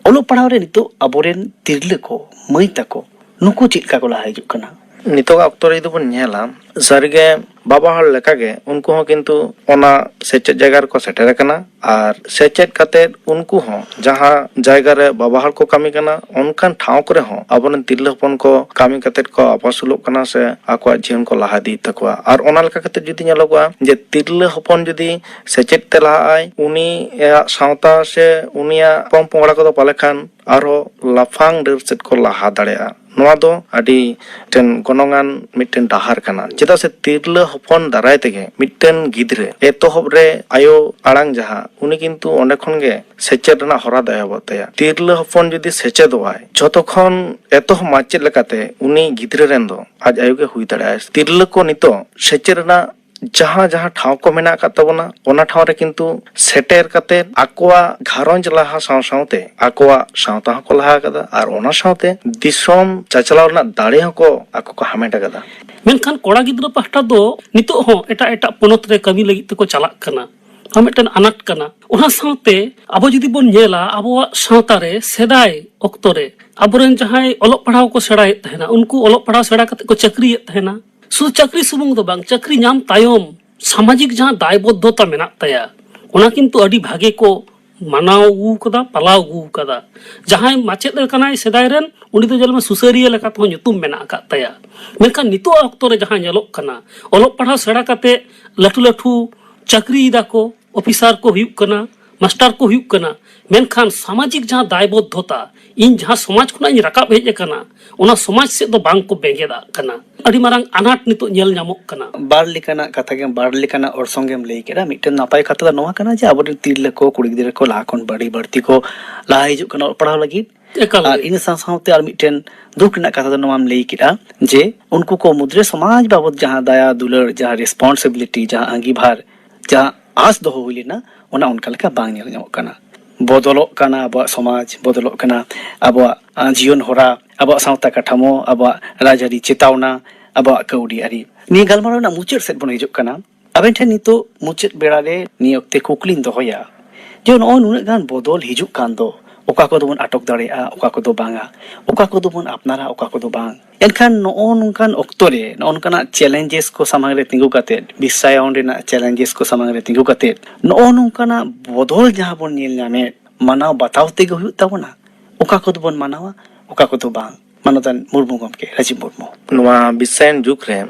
ᱚᱞᱚᱜ ᱯᱟᱲᱦᱟᱣ ᱨᱮ ᱱᱤᱛᱚᱜ ᱟᱵᱚᱨᱮᱱ ᱛᱤᱨᱞᱟᱹ ᱠᱚ ᱢᱟᱹᱭ ᱛᱟᱠᱚ ᱱᱩᱠᱩ ᱪᱮᱫ ᱞᱮᱠᱟ ᱠᱚ ᱞᱟᱦᱟ ᱦᱤᱡᱩᱜ ᱠᱟᱱᱟ ᱱᱤᱛᱚᱜᱟᱜ ᱚᱠᱛᱚ ᱨᱮ ᱡᱩᱫᱤ ᱵᱚᱱ ᱧᱮᱞᱟ ᱥᱟᱹᱨᱤᱜᱮ ᱵᱟᱵᱟ ᱦᱚᱲ ᱞᱮᱠᱟᱜᱮ ᱩᱱᱠᱩ ᱦᱚᱸ ᱠᱤᱱᱛᱩ ᱚᱱᱟ ᱥᱮᱪᱮᱫ ᱡᱟᱭᱜᱟ ᱨᱮᱠᱚ ᱥᱮᱴᱮᱨ ᱟᱠᱟᱱᱟ ᱟᱨ ᱥᱮᱪᱮᱫ ᱠᱟᱛᱮ ᱩᱱᱠᱩ ᱦᱚᱸ ᱡᱟᱦᱟᱸ ᱡᱟᱭᱜᱟ ᱨᱮ ᱵᱟᱵᱟ ᱦᱚᱲ ᱠᱚ ᱠᱟᱹᱢᱤ ᱠᱟᱱᱟ ᱚᱱᱠᱟᱱ ᱴᱷᱟᱶ ᱠᱚᱨᱮ ᱦᱚᱸ ᱟᱵᱚ ᱨᱮᱱ ᱛᱤᱨᱞᱟᱹ ᱦᱚᱯᱚᱱ ᱠᱚ ᱠᱟᱹᱢᱤ ᱠᱟᱛᱮ ᱠᱚ ᱟᱯᱟᱥᱩᱞᱚᱜ ᱠᱟᱱᱟ ᱥᱮ ᱟᱠᱚᱣᱟᱜ ᱡᱤᱭᱚᱱ ᱠᱚ ᱞᱟᱦᱟ ᱤᱫᱤᱭᱮᱫ ᱛᱟᱠᱚᱣᱟ ᱟᱨ ᱚᱱᱟ ᱞᱮᱠᱟ ᱠᱟᱛᱮ ᱡᱩᱫᱤ ᱧᱮᱞᱚᱜᱚᱜᱼᱟ ᱡᱮ ᱛᱤᱨᱞᱟᱹ ᱦᱚᱯᱚᱱ ᱡᱩᱫᱤ ᱥᱮᱪᱮᱫ ᱛᱮ ᱞᱟᱦᱟᱜᱼᱟᱭ ᱩᱱᱤᱭᱟᱜ ᱥᱟᱶᱛᱟ ᱥᱮ ᱩᱱᱤᱭᱟᱜ ᱯᱚᱝᱼᱯᱚᱝᱲᱟ ᱠᱚᱫᱚ ᱯᱟᱞᱮ ᱠᱷᱟᱱ ᱟᱨᱦᱚᱸ ᱞᱟᱯᱷᱟᱝ ᱰᱟᱹᱨ ᱥᱮᱫ ᱠᱚ ᱞᱟᱦᱟ ᱫᱟᱲᱮᱭᱟᱜᱼᱟ ᱱᱚᱶᱟ ᱫᱚ ᱟᱹᱰᱤ ᱢᱤᱫᱴᱮᱱ ᱜᱚᱱᱚᱝ ᱟᱱ ᱢᱤᱫᱴᱮᱱ ᱰᱟᱦᱟᱨ ᱠᱟᱱᱟ ᱪᱮᱫᱟᱜ ᱥᱮ ᱛᱤᱨᱞᱟᱹ ᱦᱚᱯᱚᱱ ᱫᱟᱨᱟᱭ ᱛᱮᱜᱮ ᱢᱤᱫᱴᱮᱱ ᱜᱤᱫᱽᱨᱟᱹ ᱮᱛᱚᱦᱚᱵ ᱨᱮ ᱟᱭᱳ ᱟᱲᱟᱝ ᱡᱟᱦᱟᱸ ᱩᱱᱤ ᱠᱤᱱᱛᱩ ᱚᱸᱰᱮ ᱠᱷᱚᱱ ᱜᱮ ᱥᱮᱪᱮᱫ ᱨᱮᱱᱟᱜ ᱦᱚᱨᱟ ᱫᱚ ᱮᱦᱚᱵᱚᱜ ᱛᱟᱭᱟ ᱛᱤᱨᱞᱟᱹ ᱦᱚᱯᱚᱱ ᱡᱩᱫᱤ ᱥᱮᱪᱮᱫᱚᱜ ᱟᱭ ᱡᱷᱚᱛᱚ ᱠᱷᱚᱱ ᱮᱛᱚᱦᱚᱵ ᱢᱟᱪᱮᱫ ᱞᱮᱠᱟᱛᱮ ᱩᱱᱤ ᱜᱤᱫᱽᱨᱟᱹ ᱨᱮᱱ ᱫᱚ ᱟᱡ ᱟᱭᱳ ᱜᱮ ᱦᱩᱭ ᱫᱟᱲᱮᱭᱟᱜᱼᱟᱭ ᱛᱤᱨᱞᱟᱹ ᱠᱚ ᱱᱤᱛᱚᱜ ᱥᱮᱪᱮᱫ ᱨᱮᱱᱟᱜ ᱡᱟᱦᱟᱸ ᱡᱟᱦᱟᱸ ᱴᱷᱟᱶ ᱠᱚ ᱢᱮᱱᱟᱜ ᱟᱠᱟᱫ ᱛᱟᱵᱚᱱᱟ ᱚᱱᱟ ᱴᱷᱟᱶ ᱨᱮ ᱠᱤᱱᱛᱩ ᱥᱮᱴᱮᱨ ᱠᱟᱛᱮ ᱟᱠᱚᱣᱟᱜ ᱜᱷᱟᱨᱚᱸᱡᱽ ᱞᱟᱦᱟ ᱥᱟᱶ ᱥᱟᱶᱛᱮ ᱟᱠᱚᱣᱟᱜ ᱥᱟᱶᱛᱟ ᱦᱚᱸᱠᱚ ᱞᱟᱦᱟ ᱟᱠᱟᱫᱟ ᱟᱨ ᱚᱱᱟ ᱥᱟᱶᱛᱮ ᱫᱤᱥᱚᱢ ᱪᱟᱪᱞᱟᱣ ᱨᱮᱱᱟᱜ ᱫᱟᱲᱮ ᱦᱚᱸᱠᱚ ᱟᱠᱚ ᱠᱚ ᱦᱟᱢᱮᱴ ᱟᱠᱟᱫᱟ ᱢᱮᱱᱠᱷᱟᱱ ᱠᱚᱲᱟ ᱜᱤᱫᱽᱨᱟᱹ ᱯᱟᱦᱴᱟ ᱫᱚ ᱱᱤᱛᱚᱜ ᱦᱚᱸ ᱮᱴᱟᱜ ᱮᱴᱟᱜ ᱯᱚᱱᱚᱛ ᱨᱮ ᱠᱟᱹᱢᱤ ᱞᱟᱹᱜᱤᱫ ᱛᱮᱠᱚ ᱪᱟᱞᱟᱜ ᱠᱟᱱᱟ ᱱᱚᱣᱟ ᱢᱤᱫᱴᱮᱱ ᱟᱱᱟᱴ ᱠᱟᱱᱟ ᱚᱱᱟ ᱥᱟᱶᱛᱮ ᱟᱵᱚ ᱡᱩᱫᱤ ᱵᱚᱱ ᱧᱮᱞᱟ ᱟᱵᱚᱣᱟᱜ ᱥᱟᱶᱛᱟ ᱨᱮ ᱥᱮᱫᱟᱭ ᱚᱠᱛᱚ ᱨᱮ ᱟᱵᱚᱨᱮᱱ ᱡᱟᱦᱟᱸᱭ ᱚᱞᱚᱜ ᱯᱟᱲᱦᱟᱣ ᱠᱚ ᱥᱮᱬᱟᱭᱮᱫ ᱛᱟᱦᱮᱱᱟ ᱩᱱᱠᱩ ᱚᱞᱚᱜ ᱯᱟᱲᱦᱟᱣ ᱥᱮᱬᱟ ᱠᱟᱛᱮ ᱠᱚ ᱪᱟᱹᱠᱨᱤᱭᱮᱫ ᱛᱟᱦᱮᱱᱟ ᱥᱩᱫᱷᱩ ᱪᱟᱹᱠᱨᱤ ᱥᱩᱢᱩᱝ ᱫᱚ ᱵᱟᱝ ᱪᱟᱹᱠᱨᱤ ᱧᱟᱢ ᱛᱟᱭᱚᱢ ᱥᱟᱢᱟᱡᱤᱠ ᱡᱟᱦᱟᱸ ᱫᱟᱭᱵᱚᱫᱽᱫᱷᱚᱛᱟ ᱢᱮᱱᱟᱜ ᱛᱟᱭᱟ ᱚᱱᱟ ᱠᱤᱱᱛᱩ ᱟᱹᱰᱤ ᱵᱷᱟᱜᱮ ᱠᱚ ᱢᱟᱱᱟᱣ ᱟᱹᱜᱩ ᱟᱠᱟᱫᱟ ᱯᱟᱞᱟᱣ ᱟᱹᱜᱩ ᱟᱠᱟᱫᱟ ᱡᱟᱦᱟᱸᱭ ᱢᱟᱪᱮᱫ ᱠᱟᱱᱟᱭ ᱥᱮᱫᱟᱭ ᱨᱮᱱ ᱩᱱᱤ ᱫᱚ ᱧᱮᱞ ᱢᱮ ᱥᱩᱥᱟᱹᱨᱤᱭᱟᱹ ᱞᱮᱠᱟ ᱛᱮᱦᱚᱸ ᱧᱩᱛᱩᱢ ᱢᱮᱱᱟᱜ ᱟᱠᱟᱫ ᱛᱟᱭᱟ ᱢᱮᱱᱠᱷᱟᱱ ᱱᱤᱛᱚᱜ ᱟᱜ ᱚᱠᱛᱚ ᱨᱮ ᱡᱟᱦᱟᱸ ᱧᱮᱞᱚᱜ ᱠᱟᱱᱟ ᱚᱞᱚᱜ ᱯᱟᱲᱦᱟᱣ ᱥᱮᱬᱟ ᱠᱟᱛᱮ ᱞᱟᱹᱴᱩ ᱞᱟᱹᱴᱩ ᱪᱟᱹᱠᱨᱤᱭ ᱫᱟᱠᱚ ᱚᱯᱷᱤᱥᱟᱨ ᱠᱚ ᱦᱩᱭᱩᱜ ᱠᱟᱱᱟ ᱢᱟᱥᱴᱟᱨ ᱠᱚ ᱦᱩᱭᱩᱜ ᱠᱟᱱᱟ ᱢᱮᱱᱠᱷᱟᱱ ᱥᱟᱢᱟᱡᱤᱠ ᱡᱟᱦᱟᱸ ᱫᱟᱭᱵᱚᱫᱽᱫᱷᱚᱛᱟ ᱤᱧ ᱡᱟᱦᱟᱸ ᱥᱚᱢᱟᱡᱽ ᱠᱷᱚᱱᱟᱜ ᱤᱧ ᱨᱟᱠᱟᱵ ᱦᱮᱡ ᱟᱠᱟᱱᱟ ᱚᱱᱟ ᱥᱚᱢᱟᱡᱽ ᱥᱮᱫ ᱫᱚ ᱵᱟᱝ ᱠᱚ ᱵᱮᱸᱜᱮᱫᱟᱜ ᱠᱟᱱᱟ ᱟᱹᱰᱤ ᱢᱟᱨᱟᱝ ᱟᱱᱟᱴ ᱱᱤᱛᱚᱜ ᱧᱮᱞ ᱧᱟᱢᱚᱜ ᱠᱟᱱᱟ ᱵᱟᱨ ᱞᱮᱠᱟᱱᱟᱜ ᱠᱟᱛᱷᱟ ᱜᱮᱢ ᱵᱟᱨ ᱞᱮᱠᱟᱱᱟᱜ ᱚᱨᱥᱚᱝ ᱜᱮᱢ ᱞᱟᱹᱭ ᱠᱮᱫᱟ ᱢᱤᱫᱴᱮᱱ ᱱᱟᱯᱟᱭ ᱠᱟᱛᱷᱟ ᱫᱚ ᱱᱚᱣᱟ ᱠᱟᱱᱟ ᱡᱮ ᱟᱵᱚᱨᱮᱱ ᱛᱤᱨᱞᱟᱹ ᱠᱚ ᱠᱩᱲᱤ ᱜᱤᱫᱽᱨᱟᱹ ᱠᱚ ᱞᱟᱦᱟ ᱠᱷᱚᱱ ᱟᱹᱰᱤ ᱵᱟᱹᱲᱛᱤ ᱠᱚ ᱞᱟᱦᱟ ᱦᱤᱡᱩᱜ ᱠᱟᱱᱟ ᱚᱞᱚᱜ ᱯᱟᱲᱦᱟᱣ ᱞᱟᱹᱜᱤᱫ ᱮᱠᱟᱞ ᱟᱨ ᱜᱮ ᱤᱱᱟᱹ ᱥᱟᱶ ᱥᱟᱶᱛᱮ ᱟᱨ ᱢᱤᱫᱴᱮᱱ ᱫᱩᱠ ᱨᱮᱱᱟᱜ ᱠᱟᱛᱷᱟ ᱫᱚ ᱱᱚᱣᱟᱢ ᱞᱟᱹᱭ ᱠᱮᱫᱟ ᱡᱮ ᱩᱱᱠᱩ ᱠᱚ ᱢᱩᱫᱽᱨᱮ ᱥᱚᱢᱟᱡᱽ ᱵᱟᱵᱚᱫᱽ ᱡᱟᱦᱟᱸ ᱫᱟᱭᱟ ᱫᱩᱞᱟᱹᱲ ᱡᱟᱦᱟᱸ ᱨᱮᱥᱯᱚᱱᱥᱤᱵᱤᱞᱤᱴᱤ ᱡᱟᱦᱟᱸ ᱟᱺᱜᱤᱵᱷᱟᱨ ᱡᱟᱦᱟᱸ ᱟᱸᱥ ᱫᱚᱦᱚ ᱦᱩᱭ ᱞᱮᱱᱟ ᱚᱱᱟ ᱚᱱᱠᱟ ᱞᱮᱠᱟ ᱵᱟᱝ ᱧᱮᱞ ᱧᱟᱢᱚᱜ ᱠᱟᱱᱟ ᱵᱚᱫᱚᱞᱚᱜ ᱠᱟᱱᱟ ᱟᱵᱚᱣᱟᱜ ᱥᱚᱢᱟᱡᱽ ᱵᱚᱫᱚᱞᱚᱜ ᱠᱟᱱᱟ ᱟᱵᱚᱣᱟᱜ ᱡᱤᱭᱚᱱ ᱦᱚᱨᱟ ᱟᱵᱚᱣᱟᱜ ᱥᱟᱶᱛᱟ ᱠᱟᱴᱷᱟᱢᱳ ᱟᱵᱚᱣᱟᱜ ᱨᱟᱡᱽᱟᱹᱨᱤ ᱪᱮᱛᱟᱣᱱᱟ ᱟᱵᱚᱣᱟᱜ ᱠᱟᱹᱣᱰᱤ ᱟᱹᱨᱤ ᱱᱤᱭᱟᱹ ᱜᱟᱞᱢᱟᱨᱟᱣ ᱨᱮᱱᱟᱜ ᱢᱩᱪᱟᱹᱫ ᱥᱮᱫ ᱵᱚᱱ ᱦᱤᱡᱩᱜ ᱠᱟᱱᱟ ᱟᱵᱮᱱ ᱴᱷᱮᱱ ᱱᱤᱛᱚᱜ ᱢᱩᱪᱟᱹᱫ ᱵᱮᱲᱟ ᱨᱮ ᱱᱤᱭᱟᱹ ᱚᱠᱛᱮ ᱠᱩᱠᱞᱤᱧ ᱫᱚᱦᱚᱭᱟ ᱡᱮ ᱱᱚᱜᱼᱚᱭ ᱱᱩᱱᱟᱹᱜ ᱜᱟᱱ ᱵᱚᱫᱚᱞ ᱦᱤᱡᱩᱜ ᱠᱟᱱ ᱫᱚ ᱚᱠᱟ ᱠᱚᱫᱚ ᱵᱚᱱ ᱟᱴᱚᱠ ᱫᱟᱲᱮᱭᱟᱜᱼᱟ ᱚᱠᱟ ᱠᱚᱫᱚ ᱵᱟᱝᱟ ᱚᱠᱟ ᱠᱚᱫᱚ ᱵᱚᱱ ᱟᱯᱱᱟᱨᱟ ᱚᱠᱟ ᱠᱚᱫᱚ ᱵᱟᱝ ᱮᱱᱠᱷᱟᱱ ᱱᱚᱜᱼᱚ ᱱᱚᱝᱠᱟᱱ ᱚᱠᱛᱚ ᱨᱮ ᱱᱚᱜᱼᱚ ᱱᱚᱝᱠᱟᱱᱟᱜ ᱪᱮᱞᱮᱧᱡᱮᱥ ᱠᱚ ᱥᱟᱢᱟᱝ ᱨᱮ ᱛᱤᱸᱜᱩ ᱠᱟᱛᱮᱫ ᱵᱤᱥᱥᱟᱭᱚᱱ ᱨᱮᱱᱟᱜ ᱪᱮᱞᱮᱧᱡᱮᱥ ᱠᱚ ᱥᱟᱢᱟᱝ ᱨᱮ ᱛᱤᱸᱜᱩ ᱠᱟᱛᱮᱫ ᱱᱚᱜᱼᱚ ᱱᱚᱝᱠᱟᱱᱟᱜ ᱵᱚᱫᱚᱞ ᱡᱟᱦᱟᱸ ᱵᱚᱱ ᱧᱮᱞ ᱧᱟᱢᱮᱫ ᱢᱟᱱᱟᱣ ᱵᱟᱛᱟᱣ ᱛᱮᱜᱮ ᱦᱩᱭᱩᱜ ᱛᱟᱵᱚᱱᱟ ᱚᱠᱟ ᱠᱚᱫᱚ ᱵᱚᱱ ᱢᱟᱱᱟᱣᱟ ᱚᱠᱟ ᱠᱚᱫᱚ ᱵᱟᱝ ᱢᱟᱱᱚᱛᱟᱱ ᱢᱩᱨᱢᱩ ᱜᱚᱢᱠᱮ ᱨᱟᱡᱤᱵᱽ ᱢᱩᱨᱢᱩ ᱱᱚᱣᱟ ᱵᱤᱥᱥᱟᱭᱚᱱ ᱡᱩᱜᱽ ᱨᱮ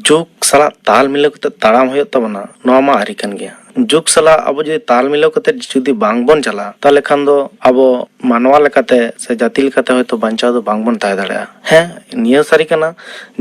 ᱡᱩᱜᱽ ᱥᱟᱞᱟᱜ ᱛᱟᱞ ᱢᱤᱞᱟᱹᱣ ᱠᱟᱛᱮ ᱛᱟᱲᱟᱢ ᱦᱩᱭᱩᱜ ᱛᱟᱵᱚᱱᱟ ᱱᱚᱣᱟ ᱢᱟ ᱟᱹᱨᱤ ᱠᱟᱱ ᱜᱮᱭᱟ ᱡᱩᱜᱽ ᱥᱟᱞᱟᱜ ᱟᱵᱚ ᱡᱩᱫᱤ ᱛᱟᱞ ᱢᱤᱞᱟᱹᱣ ᱠᱟᱛᱮ ᱡᱩᱫᱤ ᱵᱟᱝ ᱵᱚᱱ ᱪᱟᱞᱟᱜᱼᱟ ᱛᱟᱦᱚᱞᱮ ᱠᱷᱟᱱ ᱫᱚ ᱟᱵᱚ ᱢᱟᱱᱣᱟ ᱞᱮᱠᱟᱛᱮ ᱥᱮ ᱡᱟᱹᱛᱤ ᱞᱮᱠᱟᱛᱮ ᱦᱚᱭᱛᱳ ᱵᱟᱧᱪᱟᱣ ᱫᱚ ᱵᱟᱝ ᱵᱚᱱ ᱛᱟᱦᱮᱸ ᱫᱟᱲᱮᱭᱟᱜᱼᱟ ᱦᱮᱸ ᱱᱤᱭᱟᱹ ᱦᱚᱸ ᱥᱟᱹᱨᱤ ᱠᱟᱱᱟ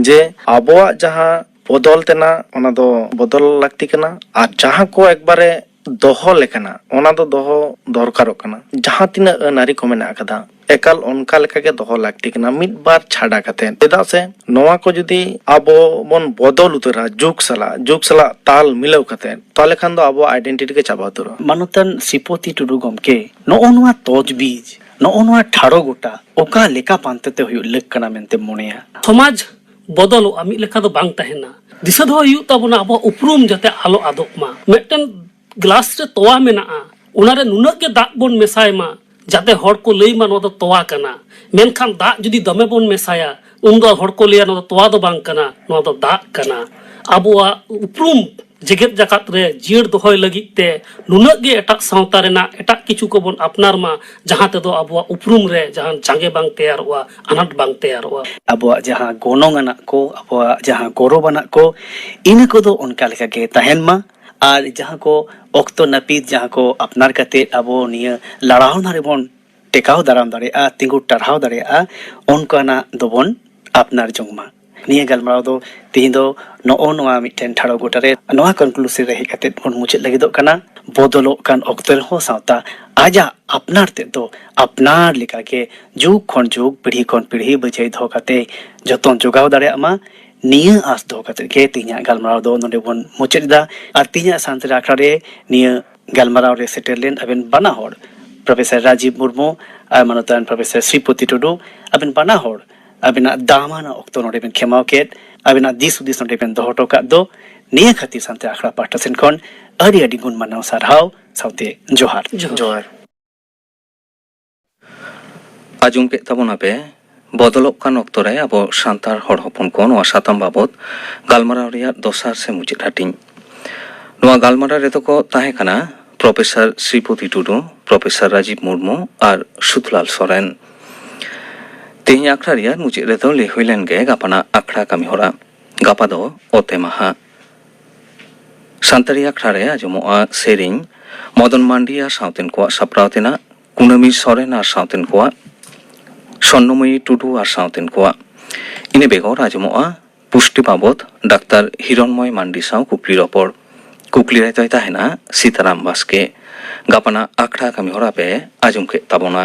ᱡᱮ ᱟᱵᱚᱣᱟᱜ ᱡᱟᱦᱟᱸ ᱵᱚᱫᱚᱞ ᱛᱮᱱᱟᱜ ᱚᱱᱟ ᱫᱚ ᱵᱚᱫᱚᱞ ᱞᱟᱹᱠᱛᱤ ᱠᱟᱱᱟ ᱟᱨ ᱡᱟᱦᱟᱸ ᱠᱚ ᱮᱠᱵᱟᱨᱮ ᱫᱚᱦᱚ ᱞᱮᱠᱟᱱᱟᱜ ᱚᱱᱟ ᱫᱚ ᱫᱚᱦᱚ ᱫᱚᱨᱠᱟᱨᱚᱜ ᱠᱟᱱᱟ ᱡᱟᱦᱟᱸ ᱛᱤᱱᱟᱹᱜ ᱟᱹᱱ ᱟᱹᱨᱤ ᱠᱚ ᱢᱮᱱᱟᱜ ᱟᱠᱟᱫᱟ ᱮᱠᱟᱞ ᱚᱱᱠᱟ ᱞᱮᱠᱟ ᱜᱮ ᱫᱚᱦᱚ ᱞᱟᱹᱠᱛᱤ ᱠᱟᱱᱟ ᱢᱤᱫ ᱵᱟᱨ ᱪᱷᱟᱰᱟ ᱠᱟᱛᱮ ᱪᱮᱫᱟᱜ ᱥᱮ ᱱᱚᱣᱟ ᱠᱚ ᱡᱩᱫᱤ ᱟᱵᱚ ᱵᱚᱱ ᱵᱚᱫᱚᱞ ᱩᱛᱟᱹᱨᱟ ᱡᱩᱜᱽ ᱥᱟᱞᱟᱜ ᱡᱩᱜᱽ ᱥᱟᱞᱟᱜ ᱛᱟᱞ ᱢᱤᱞᱟᱹᱣ ᱠᱟᱛᱮ ᱛᱟᱦᱚᱞᱮ ᱠᱷᱟᱱ ᱫᱚ ᱟᱵᱚᱣᱟᱜ ᱟᱭᱰᱮᱱᱴᱤᱴᱤ ᱜᱮ ᱪᱟᱵᱟ ᱩᱛᱟᱹᱨᱚᱜᱼᱟ ᱢᱟᱱᱚᱛᱟᱱ ᱥᱨᱤᱯᱚᱛᱤ ᱴᱩᱰᱩ ᱜᱚᱢᱠᱮ ᱱᱚᱜᱼᱚ ᱱᱚᱣᱟ ᱛᱚᱡᱽᱵᱤᱡᱽ ᱱᱚᱜᱼᱚ ᱱᱚᱣᱟ ᱴᱷᱟᱲᱚ ᱜᱚᱴᱟ ᱚᱠᱟ ᱞᱮᱠᱟ ᱯᱟᱱᱛᱮ ᱛᱮ ᱦᱩᱭᱩᱜ ᱞᱟᱹᱠ ᱠᱟᱱᱟ ᱢᱮᱱᱛᱮᱢ ᱢᱚᱱᱮᱭᱟ ᱥᱚᱢᱟᱡᱽ ᱵᱚᱫᱚᱞᱚᱜᱼᱟ ᱢᱤᱫ ᱞᱮᱠᱟ ᱫᱚ ᱵᱟᱝ ᱛᱟᱦᱮᱱᱟ ᱫᱤᱥᱟᱹ ᱫᱚᱦᱚ ᱦᱩᱭᱩᱜ ᱛᱟᱵᱚᱱᱟ ᱟᱵᱚᱣᱟᱜ ᱩᱯᱨᱩᱢ ᱡᱟᱛᱮ ᱟᱞᱚ ᱟᱫᱚᱜ ᱢᱟ ᱢᱤᱫᱴᱮᱱ ᱜᱞᱟᱥ ᱨᱮ ᱛᱚᱣᱟ ᱢᱮᱱᱟᱜᱼᱟ ᱚᱱᱟᱨᱮ ᱱᱩᱱᱟᱹᱜ ᱜᱮ ᱫᱟᱜ ᱵᱚᱱ ᱢᱮᱥᱟᱭ ᱢᱟ ᱡᱟᱛᱮ ᱦᱚᱲ ᱠᱚ ᱞᱟᱹᱭ ᱢᱟ ᱱᱚᱣᱟ ᱫᱚ ᱛᱚᱣᱟ ᱠᱟᱱᱟ ᱢᱮᱱᱠᱷᱟᱱ ᱫᱟᱜ ᱡᱩᱫᱤ ᱫᱚᱢᱮ ᱵᱚᱱ ᱢᱮᱥᱟᱭᱟ ᱩᱱᱫᱚ ᱦᱚᱲ ᱠᱚ ᱞᱟᱹᱭᱟ ᱱᱚᱣᱟ ᱫᱚ ᱛᱚᱣᱟ ᱫᱚ ᱵᱟᱝ ᱠᱟᱱᱟ ᱱᱚᱣᱟ ᱫᱚ ᱫᱟᱜ ᱠᱟᱱᱟ ᱟᱵᱚᱣᱟᱜ ᱩᱯᱨᱩᱢ ᱡᱮᱜᱮᱛ ᱡᱟᱠᱟᱛ ᱨᱮ ᱡᱤᱭᱟᱹᱲ ᱫᱚᱦᱚᱭ ᱞᱟᱹᱜᱤᱫ ᱛᱮ ᱱᱩᱱᱟᱹᱜ ᱜᱮ ᱮᱴᱟᱜ ᱥᱟᱶᱛᱟ ᱨᱮᱱᱟᱜ ᱮᱴᱟᱜ ᱠᱤᱪᱷᱩ ᱠᱚᱵᱚᱱ ᱟᱯᱱᱟᱨ ᱢᱟ ᱡᱟᱦᱟᱸ ᱛᱮᱫᱚ ᱟᱵᱚᱣᱟᱜ ᱩᱯᱨᱩᱢ ᱨᱮ ᱡᱟᱦᱟᱱ ᱡᱟᱸᱜᱮ ᱵᱟᱝ ᱛᱮᱭᱟᱨᱚᱜᱼᱟ ᱟᱱᱟᱴ ᱵᱟᱝ ᱛᱮᱭᱟᱨᱚᱜᱼᱟ ᱟᱵᱚᱣᱟᱜ ᱡᱟᱦᱟᱸ ᱜᱚᱱᱚᱝ ᱟᱱᱟᱜ ᱠᱚ ᱟᱵᱚᱣᱟᱜ ᱡᱟᱦᱟᱸ ᱜᱚᱨᱚᱵᱽ ᱟᱱᱟᱜ ᱠᱚ ᱤᱱᱟᱹ ᱠᱚᱫᱚ ᱚᱱᱠᱟ ᱞᱮᱠᱟ ᱜᱮ ᱛᱟᱦᱮᱱ ᱢᱟ ᱟᱨ ᱡᱟᱦᱟᱸ ᱠᱚ ᱚᱠᱛᱚ ᱱᱟᱹᱯᱤᱛ ᱡᱟᱦᱟᱸ ᱠᱚ ᱟᱯᱱᱟᱨ ᱠᱟᱛᱮ ᱟᱵᱚ ᱱᱤᱭᱟᱹ ᱞᱟᱲᱟᱣᱱᱟ ᱨᱮᱵᱚᱱ ᱴᱮᱠᱟᱣ ᱫᱟᱨᱟᱢ ᱫᱟᱲᱮᱭᱟᱜᱼᱟ ᱛᱤᱸᱜᱩ ᱴᱟᱨᱦᱟᱣ ᱫᱟᱲᱮᱭᱟᱜᱼᱟ ᱚᱱᱠᱟᱱᱟᱜ ᱫᱚᱵᱚᱱ ᱟᱯᱱᱟᱨ ᱡᱚᱝ ᱢᱟ ᱱᱤᱭᱟᱹ ᱜᱟᱞᱢᱟᱨᱟᱣ ᱫᱚ ᱛᱮᱦᱮᱧ ᱫᱚ ᱱᱚᱜᱼᱚ ᱱᱚᱣᱟ ᱢᱤᱫᱴᱮᱱ ᱴᱷᱟᱲᱚ ᱜᱚᱴᱟ ᱨᱮ ᱱᱚᱣᱟ ᱠᱚᱱᱠᱞᱩᱥᱤᱵᱷ ᱨᱮ ᱦᱮᱡ ᱠᱟᱛᱮ ᱵᱚᱱ ᱢᱩᱪᱟᱹᱫ ᱞᱟᱹᱜᱤᱫᱚᱜ ᱠᱟᱱᱟ ᱵᱚᱫᱚᱞᱚᱜ ᱠᱟᱱ ᱚᱠᱛᱚ ᱨᱮᱦᱚᱸ ᱥᱟᱶᱛᱟ ᱟᱡᱟᱜ ᱟᱯᱱᱟᱨ ᱛᱮᱫ ᱫᱚ ᱟᱯᱱᱟᱨ ᱞᱮᱠᱟᱜᱮ ᱡᱩᱜᱽ ᱠᱷᱚᱱ ᱡᱩᱜᱽ ᱯᱤᱲᱦᱤ ᱠᱷᱚᱱ ᱯᱤᱲᱦᱤ ᱵᱟᱹᱡᱟᱹᱭ ᱫᱚᱦᱚ ᱠᱟᱛᱮ ᱡᱚᱛᱚᱱ ᱡᱚᱜᱟᱣ ᱫᱟᱲᱮᱭᱟᱜ ᱢᱟ ᱱᱤᱭᱟᱹ ᱟᱸᱥ ᱫᱚᱦᱚ ᱠᱟᱛᱮ ᱜᱮ ᱛᱮᱦᱮᱧᱟᱜ ᱜᱟᱞᱢᱟᱨᱟᱣ ᱫᱚ ᱱᱚᱰᱮ ᱵᱚᱱ ᱢᱩᱪᱟᱹᱫ ᱮᱫᱟ ᱟᱨ ᱛᱮᱦᱮᱧᱟᱜ ᱥᱟᱱᱛᱟᱲᱤ ᱟᱠᱷᱲᱟ ᱨᱮ ᱱᱤᱭᱟᱹ ᱜᱟᱞᱢᱟᱨᱟᱣ ᱨᱮ ᱥᱮᱴᱮᱨ ᱞᱮᱱ ᱟᱵᱮᱱ ᱵᱟᱱᱟ ᱦᱚᱲ ᱯᱨᱚᱯᱷᱮᱥᱚᱨ ᱨᱟᱡᱤᱵᱽ ᱢᱩᱨᱢᱩ ᱟᱨ ᱢᱟᱱᱚᱛᱟᱱ ᱯᱨᱚᱯᱷᱮᱥᱚᱨ ᱥᱨᱤᱯᱚᱛᱤ ᱴᱩᱰᱩ ᱟᱵᱮᱱ ᱵᱟᱱᱟ ᱦᱚᱲ ᱟᱵᱮᱱᱟᱜ ᱫᱟᱢᱟᱱᱟᱜ ᱚᱠᱛᱚ ᱱᱚᱰᱮ ᱵᱮᱱ ᱠᱷᱮᱢᱟᱣ ᱠᱮᱫ ᱟᱵᱮᱱᱟᱜ ᱫᱤᱥ ᱦᱩᱫᱤᱥ ᱱᱚᱰᱮ ᱵᱮᱱ ᱫᱚᱦᱚ ᱦᱚᱴᱚ ᱠᱟᱜ ᱫᱚ ᱱᱤᱭᱟᱹ ᱠᱷᱟᱹᱛᱤᱨ ᱥᱟᱱᱛᱮ ᱟᱠᱷᱲᱟ ᱯᱟᱦᱴᱟ ᱥᱮᱱ ᱠᱷᱚᱱ ᱟᱹᱰᱤ ᱟᱹᱰᱤ ᱜᱩᱱ ᱢᱟᱱᱟᱣ ᱥᱟᱨᱦᱟᱣ ᱥᱟᱶᱛᱮ ᱡᱚᱦᱟᱨ ᱡᱚᱦᱟᱨ ᱟᱸᱡᱚᱢ ᱠᱮᱫ ᱛᱟᱵᱚᱱᱟ ᱯᱮ ᱵᱚᱫᱚᱞᱚᱜ ᱠᱟᱱ ᱚᱠᱛᱚ ᱨᱮ ᱟᱵᱚ ᱥᱟᱱᱛᱟᱲ ᱦᱚᱲ ᱦᱚᱯᱚᱱ ᱠᱚ ᱱᱚᱣᱟ ᱥᱟᱛᱟᱢ ᱵᱟᱵᱚᱛ ᱜᱟᱞᱢᱟᱨᱟᱣ ᱨᱮᱭᱟᱜ ᱫᱚᱥᱟᱨ ᱥᱮ ᱢᱩᱪᱟᱹᱫ ᱦᱟᱹᱴᱤᱧ ᱱᱚᱣᱟ ᱜᱟᱞᱢᱟᱨᱟᱣ ᱨᱮᱫᱚ ᱠᱚ ᱛᱟᱦᱮᱸ ᱠᱟᱱᱟ ᱯᱨᱚᱯᱷᱮᱥᱚᱨ ᱥᱨᱤᱯᱚᱛᱤ ᱴᱩᱰᱩ ᱯᱨᱚᱯᱷᱮᱥᱚᱨ ᱨᱟᱡᱤᱵᱽ ᱢᱩᱨᱢᱩ ᱟᱨ ᱥᱩᱫᱷᱞᱟᱞ ᱥᱚᱨᱮᱱ ᱛᱮᱦᱮᱧ ᱟᱠᱷᱲᱟ ᱨᱮᱭᱟᱜ ᱢᱩᱪᱟᱹᱫ ᱨᱮᱫᱚ ᱞᱟᱹᱭ ᱦᱩᱭ ᱞᱮᱱ ᱜᱮ ᱜᱟᱯᱟᱱᱟᱜ ᱟᱠᱷᱲᱟ ᱠᱟᱹᱢᱤ ᱦᱚᱨᱟ ᱜᱟᱯᱟ ᱫᱚ ᱚᱛᱮ ᱢᱟᱦᱟ ᱥᱟᱱᱛᱟᱲᱤ ᱟᱠᱷᱲᱟ ᱨᱮ ᱟᱸᱡᱚᱢᱚᱜᱼᱟ ᱥᱮᱨᱮᱧ ᱢᱚᱫᱚᱱ ᱢᱟᱱᱰᱤ ᱟᱨ ᱥᱟᱶᱛᱮᱱ ᱠᱚᱣᱟᱜ ᱥᱟᱯᱲᱟᱣ ᱛᱮᱱᱟᱜ ᱠᱩᱱᱟᱹᱢᱤ ᱥᱚᱨᱮᱱ ᱟᱨ ᱥᱟᱶᱛᱮᱱ ᱠᱚᱣᱟᱜ ᱥᱚᱨᱱᱚᱢᱚᱭᱤ ᱴᱩᱰᱩ ᱟᱨ ᱥᱟᱶᱛᱮᱱ ᱠᱚᱣᱟᱜ ᱤᱱᱟᱹ ᱵᱮᱜᱚᱨ ᱟᱸᱡᱚᱢᱚᱜᱼᱟ ᱯᱩᱥᱴᱤ ᱵᱟᱵᱚᱫ ᱰᱟᱠᱛᱟᱨ ᱦᱤᱨᱚᱱᱢᱚᱭ ᱢᱟᱱᱰᱤ ᱥᱟᱶ ᱠᱩᱠᱞᱤ ᱨᱚᱯᱚᱲ ᱠᱩᱠᱞᱤ ᱨᱮ ᱫᱚᱭ ᱛᱟᱦᱮᱱᱟ ᱥᱤᱛᱟᱨᱟᱢ ᱵᱟᱥᱠᱮ ᱜᱟᱯᱟᱱᱟᱜ ᱟᱠᱷᱲᱟ ᱠᱟᱹᱢᱤ ᱦᱚᱨᱟ ᱯᱮ ᱟᱸᱡᱚᱢ ᱠᱮᱫ ᱛᱟᱵᱚᱱᱟ